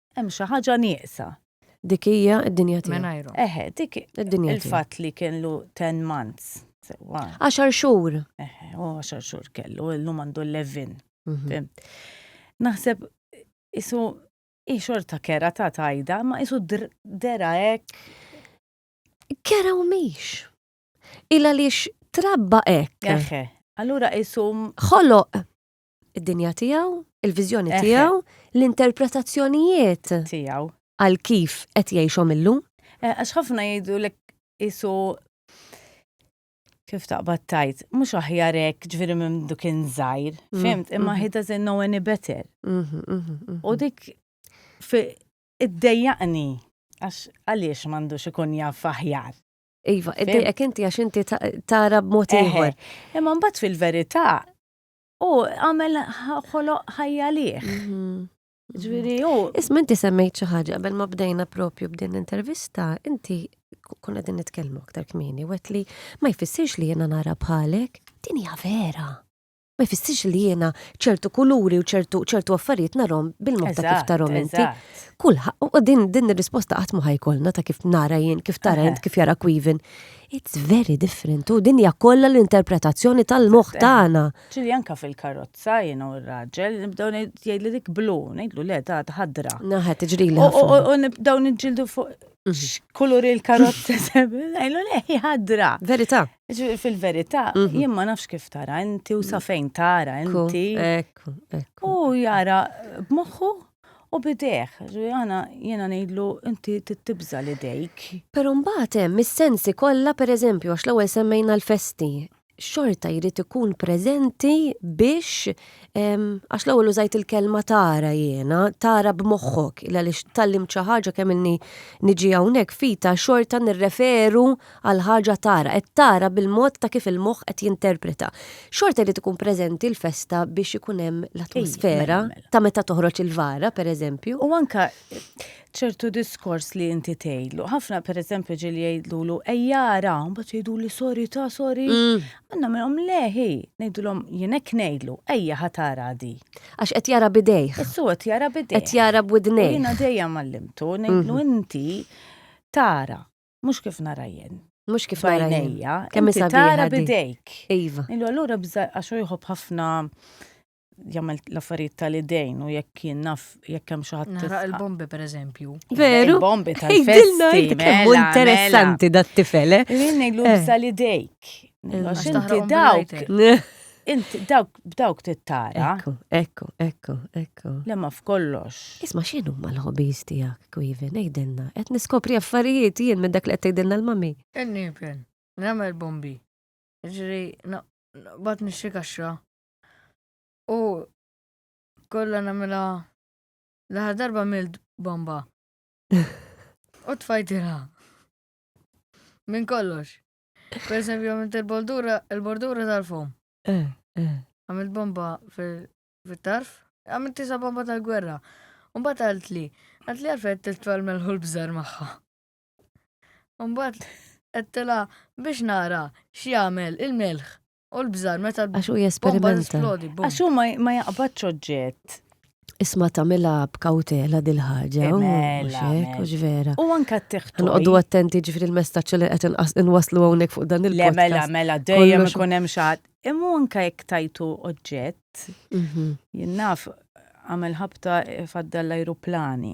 Hemm xi ħaġa nieqsa. Dik hija d-dinja tiegħu. Mingħajru. Eħe, dik Id-dinja tiegħu. il-fatt li kellu 10 months. Sewa. Għaxar xhur. Eħe, u għaxar xhur kellu, illum għandu 11. Mhm. Fimt. Naħseb isu hi xorta kera ta' tajda, ma isu dr- dera hekk. Kera u miex. Illa lix trabba hekk. Eħe. Allura isu Ħoloq Id-dinja tiegħu, il-viżjoni tiegħu, l-interpretazzjonijiet tiegħu għal kif qed jgħixhom illum. Eh, għax ħafna jgħidu l isu kif taqbad tajt, mhux aħjar hekk ġifieri minn duk inżajr, mm, fimt, imma mm. he doesn't know any better. Mm-hmm, mm-hmm, mm-hmm. U dik id-dejjaqni għax għaliex m'għandux ikun jaf aħjar. Iva, id-dejjaq inti għax inti tara b'mod ieħor. Imma mbagħad fil-verità U għamel ħoloq ħajja liħ. Mhm. Ġviri, u. Isma inti semmejt xi ħaġa qabel ma bdejna propju b'din l-intervista, inti kun qegħdin nitkellmu aktar kmieni, wet li ma jfissirx li jiena nara bħalek, din hija vera. Ma jfissirx li jiena ċertu kuluri u ċertu ċertu affarijiet narhom bil-mod ta' kif tarhom inti. Kulħa, u din din ir-risposta qatt ma ħajkolna ta' kif nara jien, kif tara jien, kif jara kwivin. It's very different, u din hija kollha l-interpretazzjoni tal-moħħ tagħna. Ġili anka fil-karozza jiena u r-raġel, nibdew jgħidli dik blu, ngħidlu le ta' ħadra. Naħa tiġri li. U nibdew niġġieldu fuq mhm. kulur il-karozza ngħidlu le hi ħadra. Verità. Fil-verità, mhm. jien ma nafx kif tara inti u sa fejn tara inti. U jara b'moħħu U bidejh, għana jena nejdlu inti tibza li dejk. Pero mbagħad hemm is-sensi kollha pereżempju għax l-ewwel semmejna l-festi. Xorta jrid ikun preżenti biex għax l-ewwel użajt il-kelma tara jiena, tara b'moħħok, il għaliex tallimt xi ħaġa kemm ilni niġi hawnhekk fita xorta nirreferu għal ħaġa tara, qed tara bil-mod ta' kif il-moħħ qed jinterpreta. Xorta jrid ikun preżenti l-festa biex ikun hemm l-atmosfera mela, mela. ta' meta toħroġ il-vara, pereżempju. U anka ċertu diskors li inti tgħidlu. Ħafna pereżempju ġieli jgħidlu ejjara, mbagħad jgħidu li sori ta' sori. Mm. Għandna minnhom leħi, ngħidulhom jien hekk ngħidlu, ejja ħatara di. Għax qed jara bidejh. Issu qed jara bidejh. Qed jara b'widnej. Jiena dejjem għallimtu ngħidlu mhm. inti tara Mhux kif nara jien. Mhux kif nara jien. Kemm inti tara bidejk. Iva. Illu allura bża għax hu jħobb ħafna jagħmel l-affarijiet tal-idejn u jekk jien naf jekk hemm xi ħadd. Nara il-bombi pereżempju. Veru. Il-bombi tal-festi. Kemm mela, interessanti mela. dat-tifel. Eh? Jien ngħidlu eh. bża l-idejk. Għax inti dawk. Int dawk b'dawk tittara. Ekku, ekku, ekku, ekku. Le ma f'kollox. Isma' x'inhu ma l-hobbies tiegħek, Kwiven, għidilna, qed niskopri affarijiet jien minn dak li qed tgħidilna l-mami. Inniepel, nagħmel bombi, jiġri naqbad nixtri kaxxa u kollha nagħmilha l-aħħar darba għamilt bomba. U tfajtilha. Minn kollox. Per eżempju, għamilt il-bordura, il-bordura tal-fom. Eh, eh. Għamilt bomba fil-tarf, għamilt tisa bomba tal-gwerra. Umbat għalt li, għalt li għalfet t-twal melħu l-bżar maħħa. Umbat għattela biex nara xie għamel il-melħ. U l-bżar, meta l-bomba. Għax u jesperimenta. Għax u ma jaqbadx oġġett. Isma tamila b'kautela dil-ħagġa. Eh, mela, mela. vera. U anka t-tiħtu. Nqoddu attenti ġifri l-messaċ li qed inwaslu hawnhekk fuq dan il-podcast. Le mela, mela, dejjem ikun hemm xaħat. Imma anka jekk tajtu oġġett, mhm. jinnaf għamel ħabta faddal l-ajruplani.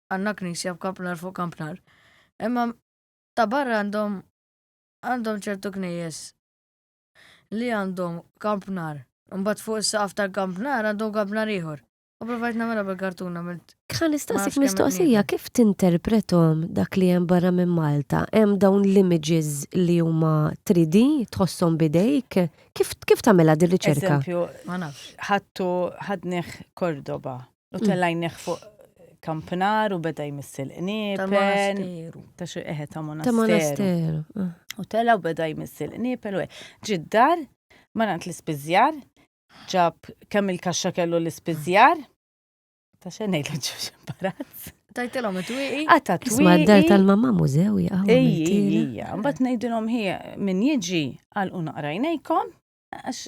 għandna knisja f'Kampnar fuq Kampnar. Imma ta' barra għandhom għandhom ċertu knejjes li għandhom Kampnar. Mbagħad fuq is-saqaf tal-Kampnar għandhom Kampnar ieħor. U provajt nagħmilha bil-kartuna milt. Kħan nistaqsik mistoqsija kif tinterpretom dak li hemm barra minn Malta? Hemm dawn l-images li huma 3D tħossom bidejk? Kif kif tagħmilha dir-riċerka? Ma nafx. Ħattu ħadnih Cordoba U tellajnieh fuq kampnar u beda jmissil qniepen. Ta' xi eħe ta' monasteru. Ah. U tela u beda jmissil qniepen u ġiddar ma nant l-ispiżjar ġab kemm il-kaxxa kellu l-ispiżjar. Ta' xenejt l ġuġ imbarazz. Tajtilom it-twiqi. Għata t-twiqi. Isma d-dar tal-mamma mużew jgħaw. Ija, mbat nejdilom ħija min jiġi għal unaqrajnejkom għax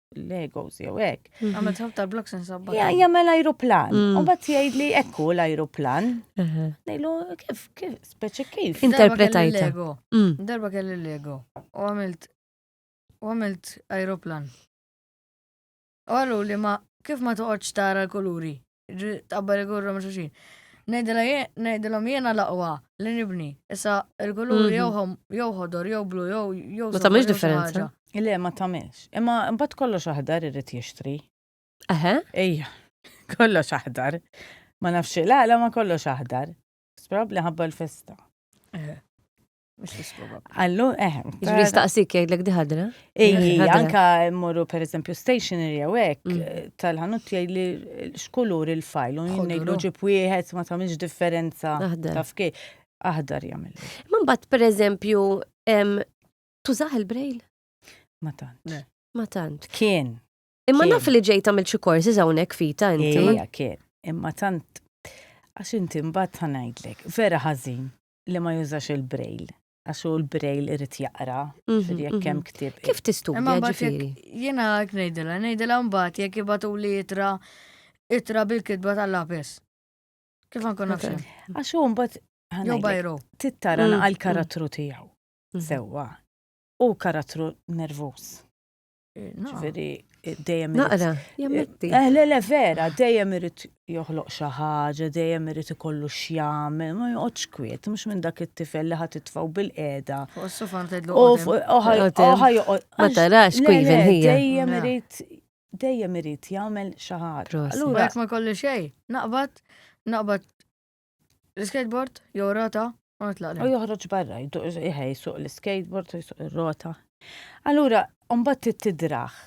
Legos jew hekk. Mhm. Għamel tħab tal-bloks insabba. Ja, jagħmel ajruplan. Mm. U bat jgħidli ekku l-ajruplan. Nejlu kif kif speċi kif. Interpretajta. Mm. Darba kelli Lego. U għamilt u għamilt ajruplan. U għallu li ma kif ma toqgħodx tara l-kuluri. Tabbar igurru ma' xulxin. Ngħidilhom jiena l-aqwa li nibni. Issa il-kulur mhm. jew ħodor jew blu jew jew. Ma tagħmilx differenza. Le ma tagħmilx. Imma mbagħad kollox aħdar irid jixtri. Eħe? Ejja. Kollox aħdar. Ma nafx la ma kollox aħdar. Sprab li ħabba l-festa. Eħe. Allu, eh. Ġri staqsik jgħidlek diħadra? Ejji, anka morru per eżempju stationery jew hekk mm. eh, tal-ħanut jgħidli x'kulur il-fajl u jgħidlu ġib wieħed ma tagħmilx differenza taf kej. Aħdar jagħmel. Ma mbagħad per eżempju tużaħ il-brejl? Ma tant. Ma tant. Kien. Imma naf li ġejt għamil xi korsi hawnhekk fita inti. Ejja, kien. Imma tant għax inti mbagħad ħanajdlek, vera ħażin li ma jużax il-brejl. Għax hu l-brejl irid jaqra, ġifieri jekk hemm ktieb. Kif tistudja Imma mbagħad jekk ġifieri? jiena hekk ngħidilha, ngħidilha mbagħad jekk ibatuli itra itra bil-kitba tal-lapes. Kif ma nkun nafx. Għax hu mbagħad ħa Jew ngħidlek, bajru. tittara Mm, naqal karattru tiegħu. Sewwa. Hu karattru nervuż. Ġifieri dejjem Naqra, jammetti. Eh, le, le, vera, dejjem irid joħloq xi ħaġa, dejjem irid ikollu x'jagħmel, ma joqgħodx kwiet, mhux minn dak it-tifel li ħadd itfgħu bil-qiegħda. Fuq is-sofan tgħidlu. U fuq oħa oħa joqgħod. Ma tarax kwiven hija. Dejjem Le. irid dejjem irid jagħmel xi ħaġa. Prost. Allura Allura, ma kollu xej, naqbad, naqbad L-skateboard, jew rota, u nitlaq. U joħroġ barra, jħej suq l-skateboard u jsuq ir-rota. Allura, mbagħad trid tidraħ.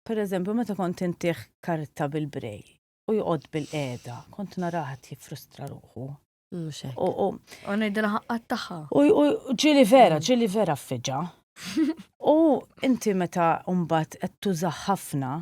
Per eżempju, meta kont intih karta bil-brej u joqgħod bil-qeda, kont naraħat jiffrustra ruħu. U ngħidilha ħaqqat tagħha. U ġili vera, mm. ġili vera fiġa. U inti meta mbagħad qed tuża ħafna,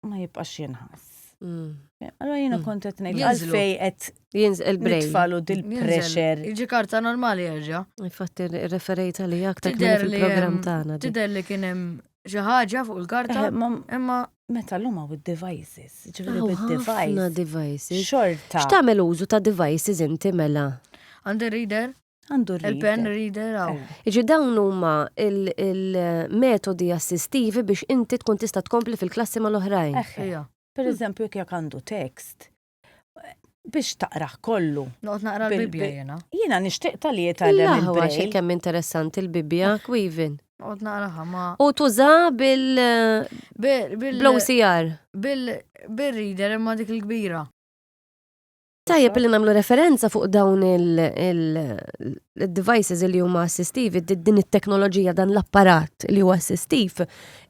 ma jibqax jinħass. Mm. Allora jina mm. kontet nejt għalfej għet jinżel il-brej. Nitfalu dil-pressure. Iġi karta normali għagġa. Infatti referejt għalli aktar fil-program tagħna. Tider li kien hemm xi ħaġa fuq il-karta. Eh, imma meta l-huma u devices ġifieri oh, bid-device. devices. Xorta. X'tagħmel użu ta' devices inti mela? Għandi reader. Għandu reader. Il-pen reader għaw. Eh. Iġi dawn huma il-metodi assistivi biex inti tkun tista' tkompli fil-klassi mal-oħrajn. Eh, eh. Per eżempju, jekk għandu tekst, biex taqraħ kollu. Noqt naqra l-Bibja jena. Jena nishtiq tal-li jitallem il-Bibja. xie kemm interessanti l-Bibja, kwivin. Noqt naqraħa ma. U tuża bil. Bil-OCR. Bil-reader imma dik il-kbira. Tajjeb li nagħmlu referenza fuq dawn il-devices li huma assistivi, din it-teknoloġija dan l-apparat li huwa assistiv,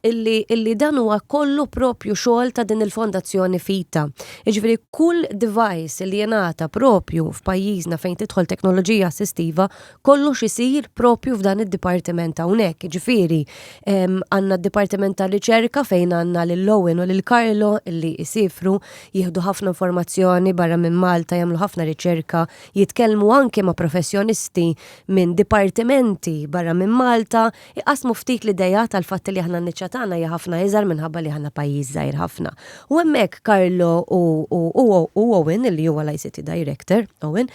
illi dan huwa kollu propju xogħol ta' din il-fondazzjoni fita. Jiġifieri kull device li jingħata propju f'pajjiżna fejn tidħol teknoloġija assistiva, kollox isir propju f'dan id-dipartiment hawnhekk, ġifieri għandna d-dipartiment ta' riċerka fejn għandna lil Owen u lil Carlo li jsifru jieħdu ħafna informazzjoni barra minn Malta jagħmlu ħafna riċerka, jitkellmu anke ma' professjonisti minn dipartimenti barra minn Malta, iqassmu ftit l-ideat għall-fatt li aħna n-niċċa tagħna hija ħafna iżgħar minħabba li aħna pajjiż żgħir ħafna. U hemmhekk Carlo u Owen, li huwa l-ICT Director, Owen,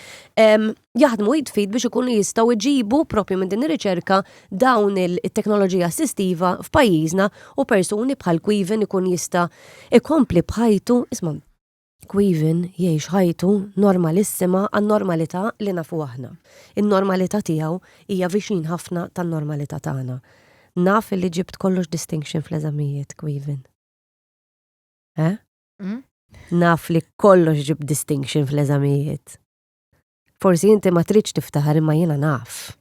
jaħdmu id fid biex ikunu jistgħu jġibu propju minn din ir-riċerka dawn it-teknoloġija assistiva f'pajjiżna u persuni bħal Queven ikun jista' ikompli bħajtu isma' Queven jgħix ħajtu normalissima għan-normalità li nafu aħna. In-normalità tiegħu hija viċin ħafna tan-normalità tagħna. Naf li ġibt kollox distinction fl-eżamijiet, Queven. Eh? Mm? Naf li kollox ġib distinction fl-eżamijiet. Forsi inti ma tridx tiftaħar imma jiena naf.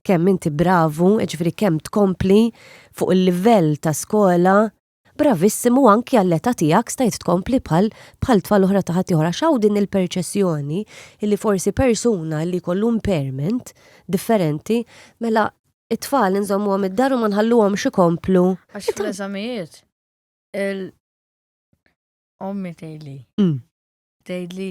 Kemm inti bravu, ġifri kemm tkompli fuq il-livell ta' skola, bravissimu anki għall-età tiegħek stajt tkompli bħal bħal tfal oħra ta' ħadd oħra xaw din il-perċessjoni li forsi persuna li kollu impairment differenti mela it-tfal nżommu għam id-daru ma nħalluhom xikomplu. Għax fl-eżamijiet, il-ommi tejli. Mm. Tejli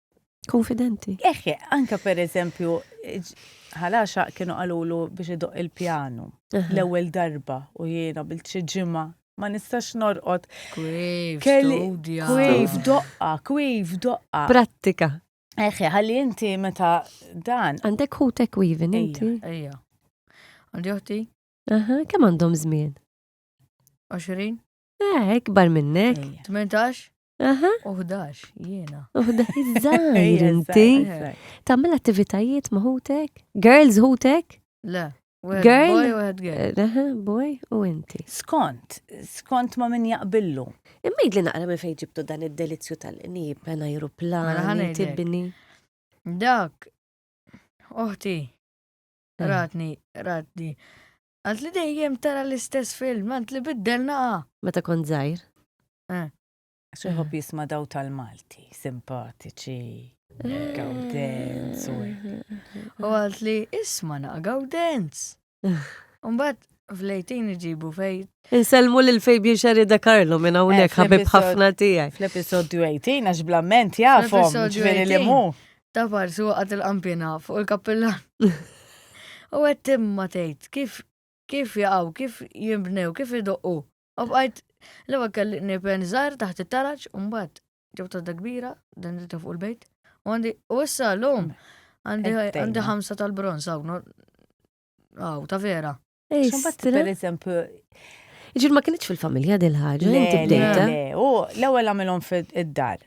Konfidenti. Eħe, anka per eżempju, ħalaxa kienu għalulu biex idoq il-pjanu l-ewwel darba u jiena bil xi ġimgħa ma nistax norqod. Kwif, studja. Kwif, doqqa, kwif, doqqa. Prattika. Eħe, ħalli inti meta dan. Għandek ħutek kwivin inti? Ejja. Għandi uħti? Aha, kemm għandhom żmien? 20? Eh, ikbar minnek. 18? Aha. Uħdax, jiena. Uħdax, iż-żajr inti. Tammel attivitajiet maħutek? Girls ħutek? Le. Girl? Aha, boy u inti. Skont, skont ma minn jaqbillu. Imma jidli naqra minn fejn ġibtu dan id-delizju tal-qnib, għan aeroplan, mela tibbini. Dak, oħti, ratni, ratni, Għant li dejjem tara l-istess film, għant li biddelna għa. Meta kont zaħir? Eh. Xi jħobb eh. jisma daw tal-Malti, simpatiċi, eh. gawdenz. U għalt li isma naqa gawdenz. Umbat, Flejtin iġibu fej. Inselmu lil Fabian Xarida Karlo minn hawnhekk ħabib ħafna tiegħi. Fl-episodju 18 għax blament jafhom ġifieri li mu. Ta' parsu waqgħet il-qampina fuq il-kappillan. U qed timma tgħid kif kif jaqgħu, kif jinbnew, kif idoqqu. U bqajt l-ewwel kelli nipen żgħar taħt it-taraġ u mbagħad ġew tadda kbira dan ta' fuq il-bejt. U għandi u issa llum għandi ħamsa tal-bronz hawn. Aw ta' vera. Xumbat, per eżempju, Ġir ma kienieċ fil-familja dil ħaġa inti bdejta. U l-ewwel għamilhom fid-dar.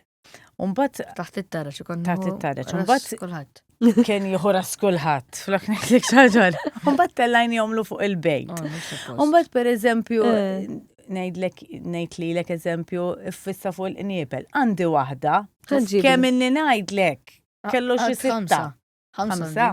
Umbat. Taħt it-taraċ, ikon. Taħt it-taraċ. Umbat. Kulħadd. Kien jieħu ras kulħadd. Flok neklik xaġar. Umbat tellajn jomlu fuq il-bejt. Oh, Umbat per eżempju, eh. nejdlek, nejt li l-ek eżempju, fissa fuq il-qniebel. Għandi wahda. Kemm inni najdlek. Kellu xi sitta. Ħamsa.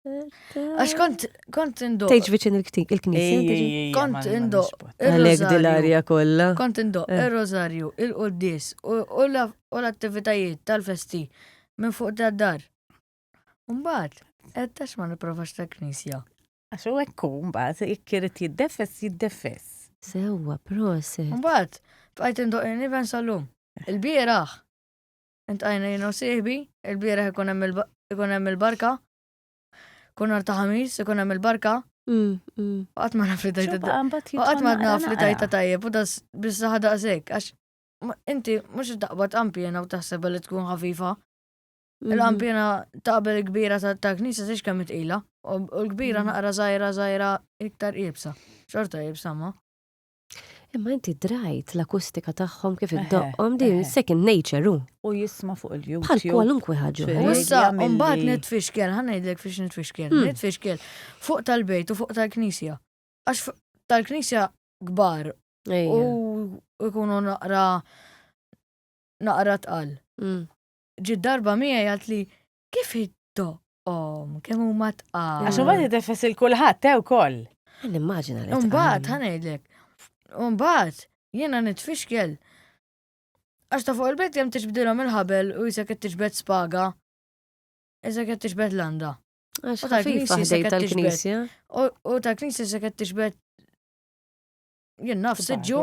Għax kont, kont indo. Tejġ viċin il-knisja. Kont indo. Għalek dil-arja kolla. Kont indo, eh. il-rozarju, il-qoddis, u l-attivitajiet tal-festi minn fuq ta' dar. Umbat, għettax ma niprofax ta' knisja. Għax u ekku, umbat, ikkirit jiddefess, jiddefess. Sewa, proset. Umbat, fajt indo, niven salum. Il-biraħ. Intajna jina u siħbi, il-bira ikun hemm il-barka, kun ta' ħamis, ikun hemm il-barka. Mm, mm. Għat ma naf li tajta tajjeb. Għat ma naf li tajta tajjeb, u das bizza ħada għazek, għax inti mux taqbad ampjena u taħseb li tkun ħafifa. Mm-hmm. Il-ampjena taqbel kbira ta' knisa siex kemm itqila, u l-kbira mm. naqra zaħira zaħira iktar ibsa. Xorta ibsa ma. Imma inti drajt l-akustika tagħhom kif iddoqqhom din second nature hu. U jisma' fuq il-YouTube. Bħal kwalunkwe ħaġa. Issa mbagħad nitfixkel, ħa ngħidlek fiex nitfixkel. Hmm. Nitfixkel fuq tal-bejt u fuq tal-knisja. Għax tal-knisja kbar u jkunu naqra naqra tqal. Hmm. Ġid darba miegħi għalt li Kif id-doqqom, kemm huma tqal. Għax imbagħad jitefes il kulħadd te wkoll. Nimmaġina li. Imbagħad ħanejdlek. Imbagħad jiena nitfixkel. Għax ta' fuq il-bejt kemm tiġbdilhom il-ħabel u jisek qed tiġbed spaga. Isek qed tiġbed landa. Għax ta' fil-faħdej tal-knisja. U ta' knisja se qed tiġbed jien naf siġġu.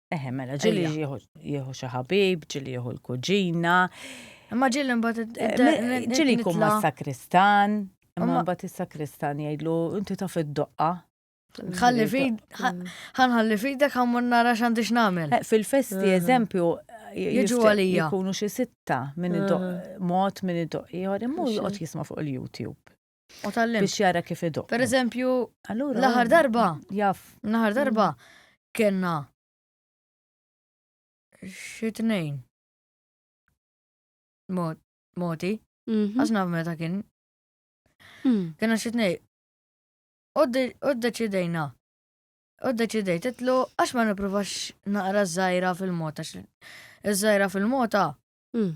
Eħe, mela, ġili jieħu xi ħabib, ġili jieħu l-kuġina. Imma ġili mbagħad eh, ġili jkun ma' sakristan, imma mbagħad is-sakristan jgħidlu inti taf id-doqqa. Ħalli fid, ħanħalli fidek ħammur nara x'għandix nagħmel. Eh, fil-festi eh. eżempju, jiġu għalija. Jkunu xi sitta minn id-doq, mod minn id-doq ieħor, imma joqgħod jisma' fuq il-YouTube. U tal-lim. Biex jara kif idu. Per eżempju, l-aħħar um, darba. Jaf. L-aħħar darba mm. kena xi tnejn. Moti. Mhm. Għasna meta kien. Mm. Kena xi tnejn. U deċidejna. U deċidejt titlu għax ma nipruvax naqra żgħira fil-mota. Iż-żgħira fil-mota. Mm.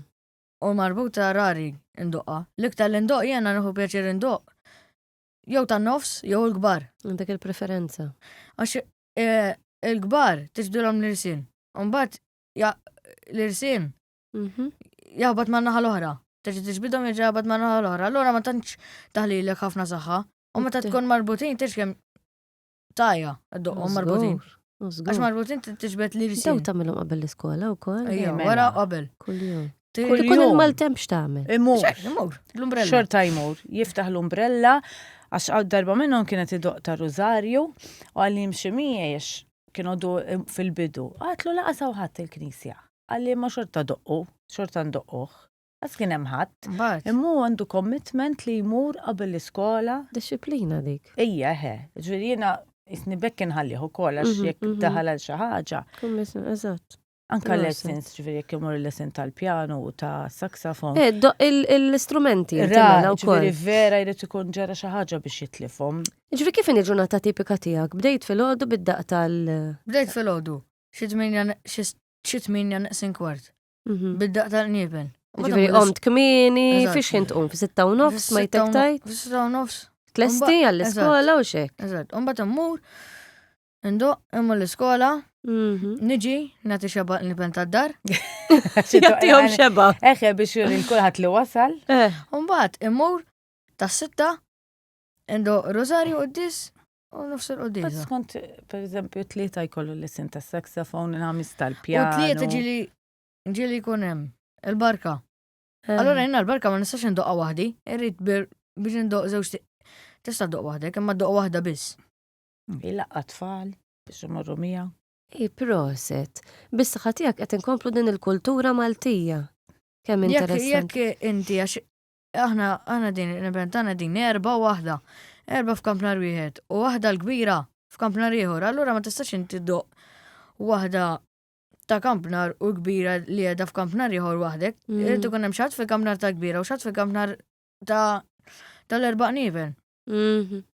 u marbuta rari ndoqqa. L-iktar li ndoqq jiena nieħu pjaċir indoqq jew tan-nofs jew il-kbar. Għandek il-preferenza. Għax eh, il-kbar tiġdilhom l-irsin. Mbagħad l-irsin mhm. jaħbad ma' naħa l-oħra. Tiġi tiġbidhom jiġi jaħbad ma' naħa l-oħra. Allura ma tantx taħlilek ħafna saħħa. U meta tkun marbutin tixkem Tajja, għaddoqom marbutin. Għax marbutin t-tġbet li risin. Daw tamilom qabel l-iskola u kol. Ejja, mela. wara qabel. Kull-jum. Kull jum il-maltem xtamil. Imur. Imur. L-umbrella. Xorta imur. Jiftaħ l-umbrella. Għax għad darba minnom kienet id-doq ta' Rosario. U għalli mximiex kienu du fil-bidu. Għatlu laqasaw ħadd il-knisja. Għalli ma xorta doqqu. Xorta ndoqquħ. Għas kien hemm ħadd. Mbagħad. Imma hu għandu commitment li jmur qabel l-iskola. Dixxiplina dik. Ejja, eħe. Ġifieri jiena jisni bekk inħallih ukoll għax mhm, jekk mhm. daħal għal xi ħaġa. Commitment, eżatt. Anka lessons, ġviri jek jemur lesson tal-pjano u ta' saxofon. Eh, l-istrumenti, ġviri mela vera jrid ikun ġara xaħġa biex jitlifom. Ġviri kif inġu ġurnata tipika tijak? Bdejt fil-ħodu bid-daq tal- Bdejt fil-ħodu, xitminja naqsin kwart. Mhm. Bid-daq tal-qniepen. Ġifiri, omt kmini, fiex kien tqum, fi sitta u nofs, ma jtek tajt? Fi sitta u nofs. Tlesti għall-iskola u xek. Eżat, un bat immur, indu, immu l-iskola, mhm. niġi, nati xeba l-nipen ta' dar. Jattijom xeba. Eħe biex il-kulħat li wasal. Eh. Un bat immur, ta' sitta, indu Rosario u dis, U nofs il-qudisa. Skont, per eżempju, tlieta jkollu l-isim ta' saxofon, il-ħamis tal-pjan. U tlieta ġili ġili kunem, il-barka. Eh. Allora jenna l-barka ma nistax indoqqa wahdi, irrit biex indoq zewġ tista doq wahdek, imma doq wahda biss. Il-laqqa tfal, biex imorru mija. I proset, biss ħatijak qed inkomplu din il-kultura Maltija. Kemm interessanti. Jekk inti għax Aħna, aħna din, nibben tagħna din erba' waħda. Erba' f'kamp nar wieħed u waħda l-kbira f'kamp nar ieħor, allura ma tistax inti doq waħda ta' kamp nar u kbira li għedha f'kamp nar ieħor waħdek. Mm. Irid ikun hemm xatt fil-kamp nar ta' kbira u xatt fil-kamp nar ta' tal-erba' nivel. Mhm.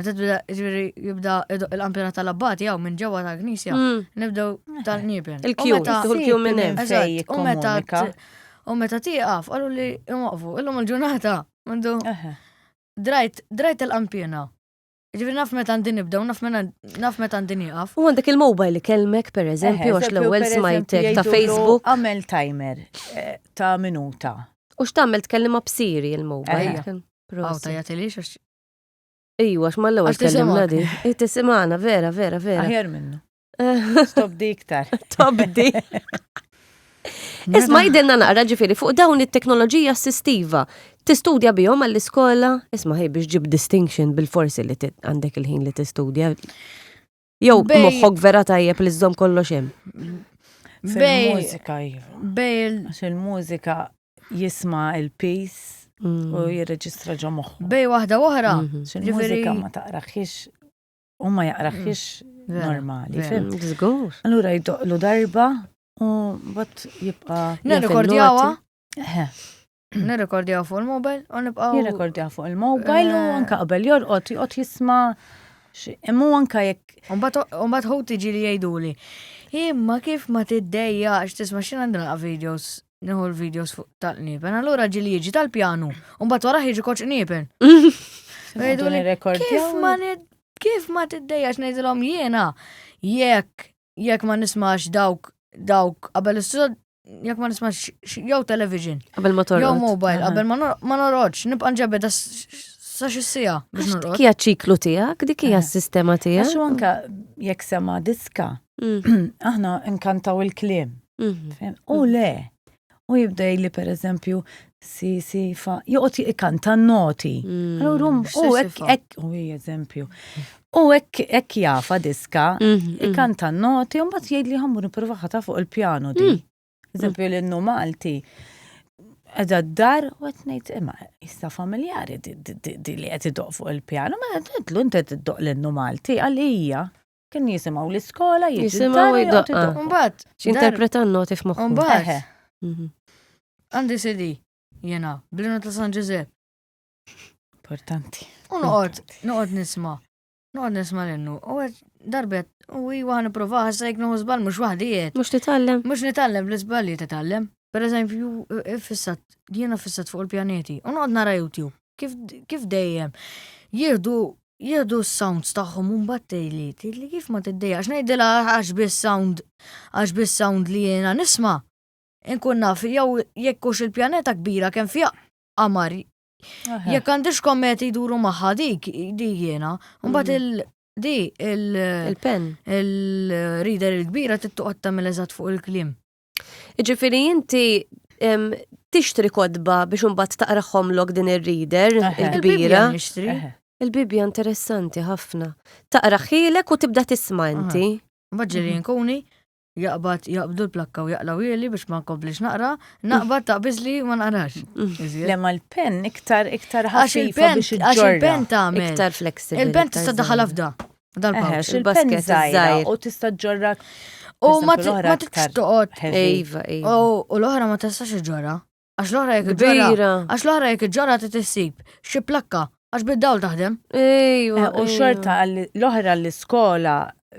Meta tibda ġifieri jibda idoq il-kampjonat tal-abbati jew minn ġewwa tal-knisja, Mm. nibdew tal-nieben. U Il-kju, meta- tieħu l-kju minn hemm. Eżatt, Fej u meta jikkomunika. t- U meta tieqaf, qalu li imwaqfu, illum il-ġurnata, għandu Eħe. drajt, drajt il-kampjena. Ġifieri naf meta għandi nibdew, naf meta naf meta għandi nieqaf. U għandek il-mobile li kelmek, per eżempju, għax l-ewwel smajtek ta' Facebook. Għamel timer eh, ta' minuta. U x'tagħmel tkellima b'siri il-mobile. Ejja. Kien- Għaw Prosit. tajja tilix għax Ejwa, għax mal-ewwel Għax tkellimna tisimgħek. di. Eh, Tisimgħana, vera, vera, vera. Aħjar minnu. Stop di iktar. Top di. Isma' jidenna naqra ġifiri fuq dawn it-teknoloġija assistiva. Tistudja bihom għall-iskola, isma' ħej biex ġib distinction bil-forsi li ti- għandek il-ħin li tistudja. Jew Bej- moħħok vera tajjeb li żżomm kollox hemm. Bej- Fil-mużika, iva. Bej il- Għax il-mużika jisma il-peace Mm. u jirreġistra ġo moħħu. bej waħda oħra. Mhm. Għax Il-mużika Ġifieri- ma taqraħiex u ma jaqraħiex Vera, normali. vera. fim. Mm, Żgur. Allura jdoqlu darba u bat jibqa. Nirrikordjawha Eh, Nirrekordjaw fuq il-mobile u nibqaw. Jirrekordja fuq il-mobile u Eh. anka qabel jorqod, jorqod jisma xi- imma hu anka jekk Umbat hu tiġi li jgħiduli. Imma kif ma tiddejjax tisma xi għandi nilqa' videos, nieħu l-videos fuq tal-qniepen. Allura ġili jiġi tal-pjanu, umbat wara jiġi koċ qniepen. Jgħidu li, nirrekordjaw. Kif ma nid- kif ma tiddejjax ngħidilhom jiena jekk jekk ma nismax dawk dawk qabel is-sod jekk ma nismax jew television. Qabel ma torqod. Jew mobile, qabel ma norqodx, nibqa' nġebed sa xi sija biex norqod. Kija ċiklu tiegħek, dik hija s-sistema tiegħek. Għax anke jekk sema diska, mm. aħna nkantaw il-kliem. Mm-hmm. U le, u jibda li per eżempju si si fa joqgħod ikanta noti. Allura mm, u hekk hekk u eżempju. U hekk hekk jafa diska mm, mm. ikanta noti u mbagħad jgħid li ħammur nipprova ħata fuq il-pjanu di. Eżempju l-innu Malti edha d-dar u għet nejt imma jista familjari di li għet id fuq il-pjano, ma għedlu inti id-doq l-innu Malti għalija. Kien jisimaw l-iskola, jisimaw id-daqqa. Umbat. Xinterpretan noti f'moħħu. Umbat. Mhm. Għandi sidi, jena, blinu ta' San Ġużep. Importanti. U noqgħod, noqgħod nisma. Noqgħod nisma l-innu. U għed darbet, u iwa għan prova ħassa jek nuħu zbal mux wahdijiet. Mux titallem. Mux nitallem, l-zbal li titallem. Per eżempju, eh, fissat, jena fissat fuq il-pjaneti. U noqgħod nara YouTube. Kif dejjem. Jihdu jieħdu s-sounds tagħhom u mbagħad tgħidli tgħidli kif ma tiddejjax ngħidilha għax biss sound għax biss sound li jiena nisma' inkun naf jew jekk hux il-pjaneta kbira kemm fiha qamar Jekk għandix kommet iduru maħħa dik, di jena, mbagħad mm. il- di il-pen, il-reader il-kbira tittuqat tamil eżat fuq il-klim. Ġifiri inti tixtri kodba biex unbat taqraħom lok din ir-reader il-kbira. Il-Bibja interessanti ħafna. Taqraħilek u tibda tisma' inti. Maġġeri nkuni jaqbad jaqbdu l-plakka u jaqlaw jeli biex ma nkomplix naqra, naqbad taqbiż li ma naqrax. Lema l-pen iktar iktar ħaxi il-pen biex il-pen ta' iktar flexibli. Il-pen tista' daħal afda. Dal Eħe, pouch, xil-pen il-basket zaħira iż-żgħir. u tista' ġorra. U ma Eżempju, l-oħra ma tibx aktar toqgħod. heavy. Ejva, ejva. U u l-oħra ma tistax iġġorha. Għax l-oħra jekk iġġorha. Kbira. Għax l-oħra jekk iġġorha ti tissib xi plakka għax bid-dawl taħdem. Ejwa. Eh, U ejwa. xorta għall- l-oħra l-iskola,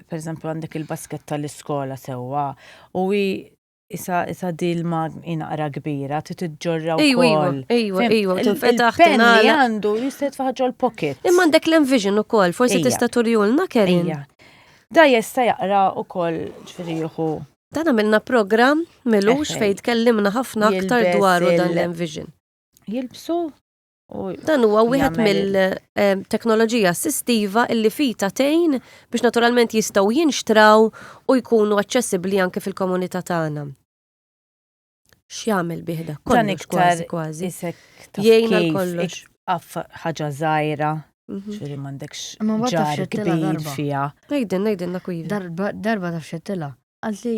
per eżempju għandek il-basket tal-iskola sewwa, u hi Isa isa di l-ma inaqra kbira, ti titġorra u Ejwa, ejwa, kol. ejwa, Fem- ejwa, il- tinfetaħ, Il-pen li tingħalaq. għandu jistet faħġo l-pocket. Imma għandek l-envision u koll, forsi Ejja. tista turjulna Karen. Ejja. Da jesta jaqra u kol ġfiriħu. Dan għamilna program milux Eħe. fejn tkellimna ħafna aktar Jilbes dwaru dan il- l-envision. Jilbsu Dan huwa wieħed mill-teknoloġija assistiva illi fita tejn biex naturalment jistgħu jinxtraw u jkunu aċċessibbli anke fil-komunità tagħna. X'jagħmel biħda? Kollox kważi kważi. Jgħin għal kollox. Aff ħaġa żgħira. Mhm. Ġifieri m'għandekx ġar kbir fiha. Ngħidin, ngħidin dak Darba taf xettila. Għalli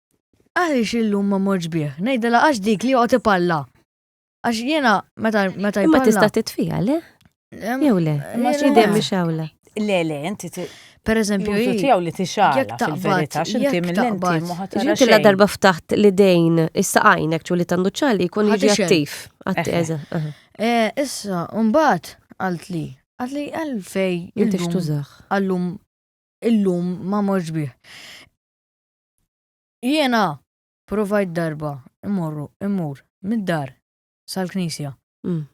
Għaliex illum ma morġ bih, ngħidilha għax dik li joqgħod ipalla. Għax jiena meta meta Imma jpalla. tista' titfija, le? Em, Jew le? Ma eh, xi le. dem biex hawla. Le, le, inti ti- Per eżempju, l-użu hi- tiegħu li jekk tixgħala taqbad- fil-verità, x'inti jekk mill-lenti taqbad- ma ħatara Ġinti la xejn. darba ftaħt l-idejn issa għajnek ċu li tandu ċali jkun Ħadd jiġi ixen. attiv. Atti, Eħe. eża, eħe. Eh, issa, mbagħad għalt li, għalt li għalfej Inti illum- xtużax. għallum illum ma morġ bih. Jiena provajt darba immorru immur mid-dar sal-knisja. Mm.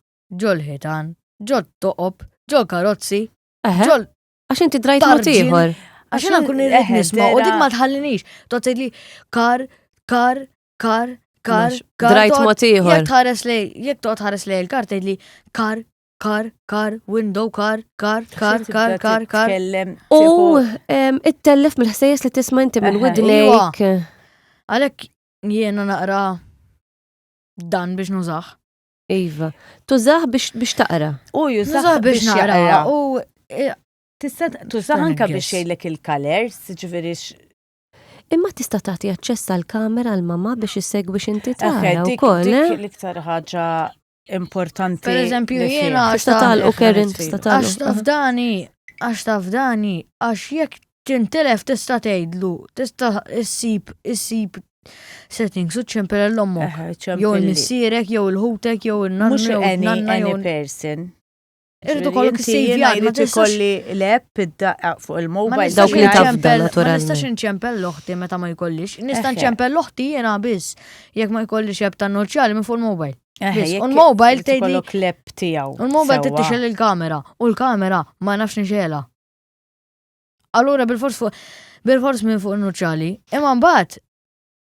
Ġol-ħitan, ġot-toqob, ġol-karozzi, ġol. Għax inti drajt mod ieħor. Għax jiena kun irrid nisma' u dik ma tħallinix. Tot li kar, kar, kar, kar, kar. Drajt mod ieħor. Jekk tħares lej, jekk toqgħod tħares lej il-kar tgħidli kar, kar, kar, window, kar, kar, kar, kar, kar, kar. U it-tellef mill-ħsejjes li tisma inti minn widnejk. Għalek jiena naqra dan biex nużax. Iva, tużax biex taqra. U jużax biex naqra. U e, tista' tużax anka biex jgħidlek il-colors, ġifieri Imma tista' tagħti aċċess għal kamera għal mama biex issegwi x'inti tara wkoll. Eh? L-iktar ħaġa importanti. Per eżempju, jiena għax tatal u Karen tatal. Għax tafdani, għax tafdani, għax jekk tintelef tista' tgħidlu, tista' issib issib settings u ċempel l-ommok. Jew il-missierek, jew il-ħutek, jew il-nanna. Mux any, any person. Irrid ukoll Inti ksejjed jiena ma jrid tistax ikolli l-app id-daqqa fuq ma il-mobile. nistax Dawk li taf inċempel- dan, Ma naturalment. nistax inċempel l-oħti meta ma jkollix. Nista' Eħe. nċempel l-oħti jiena biss. Jekk ma jkollix app ta' noċjali minn fuq il-mobile. Eħe, biss. jekk U l-mobile irid tgħidli- ikollok l-app tiegħu. U l-mobile sewwa. tittixel il-kamera. U l-kamera ma nafx nixela. Allura bil-fors fuq bil-fors minn fuq il-nuċċali. Imma mbagħad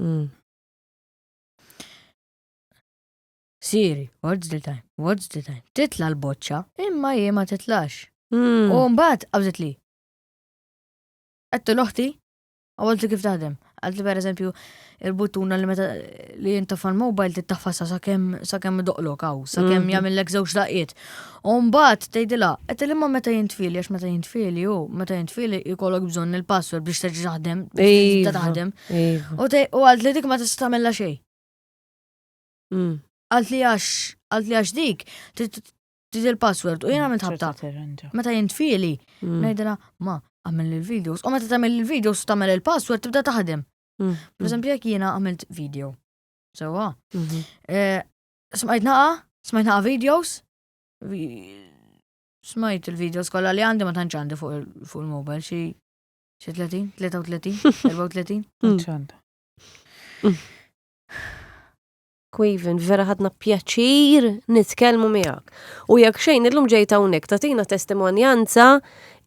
Mm. Siri, what's the time? What's the time? Titla l-boċċa, imma jie ma titlax. Mm. U mbagħad qabżet li. Għattu l-oħti, għawalt li kif taħdem. Għalt li per eżempju, il-buttuna li meta li jintafa l-mobile tittafa sa sakemm doqlok għaw, sakemm mm. jagħmillek żewġ daqiet. U mbagħad tgħidilha, qed ilma meta jintfieli għax meta jintfieli hu, meta jintfieli jkollok bżonn il-password biex terġa' taħdem, biex taħdem. U għalt li dik ma tista' tagħmilha xejn. Mm. Għalt li għax, għalt li għax dik, trid il-password u jiena mm, mitħabta. Meta jintfieli, mm. ngħidilha ma għamil il-videos. U meta tagħmel il-videos tagħmel il-password tibda taħdem. Per eżempju jekk jiena għamilt video. Sewa. Mhm. Eh, Smajt naqa, smajt naqa videos, smajt il-videos kolla li għandi ma tantx għandi fuq il-mobile xi xi 30, 33, 34. Ċanda. Queven, vera ħadna pjaċir nitkellmu miegħek. U jekk xejn illum ġejta hawnhekk tagħtina testimonjanza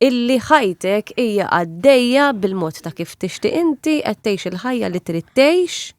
illi ħajtek hija għaddejja bil-mod ta' kif tixtieq inti qed tgħix il-ħajja li trid tgħix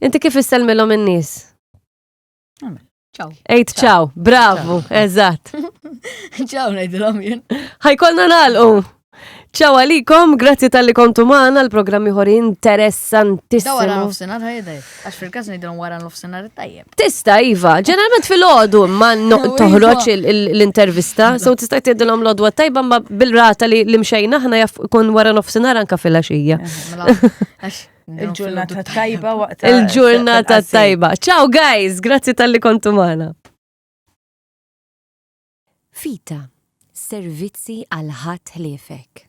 Inti kif issellmilhom in-nies? Ciao. Ejt ciao, bravo, eżatt. Ciao ngħidilhom jien. Ħajkolna nagħlqu. Ciao għalikom, grazzi tal-li kontu maħna l-programmi ħor interessantissimu. Da wara l-ofsenar ħajdaj, għax fil-kas nidrom wara l-ofsenar tajjeb. Tista, Iva, ġeneralment fil-ħodu ma toħroċ l-intervista, so tista jtidilom l-ħodu tajba ma bil-rata li l-imxajna ħna jaf kun wara l-ofsenar anka fil-ħaxija. Eh, mela, Il-ġurnata tajba waqt. Il-ġurnata tajba. Ciao guys, grazzi tal-li kontu mana. Fita, servizzi għal ħadd ħliefek.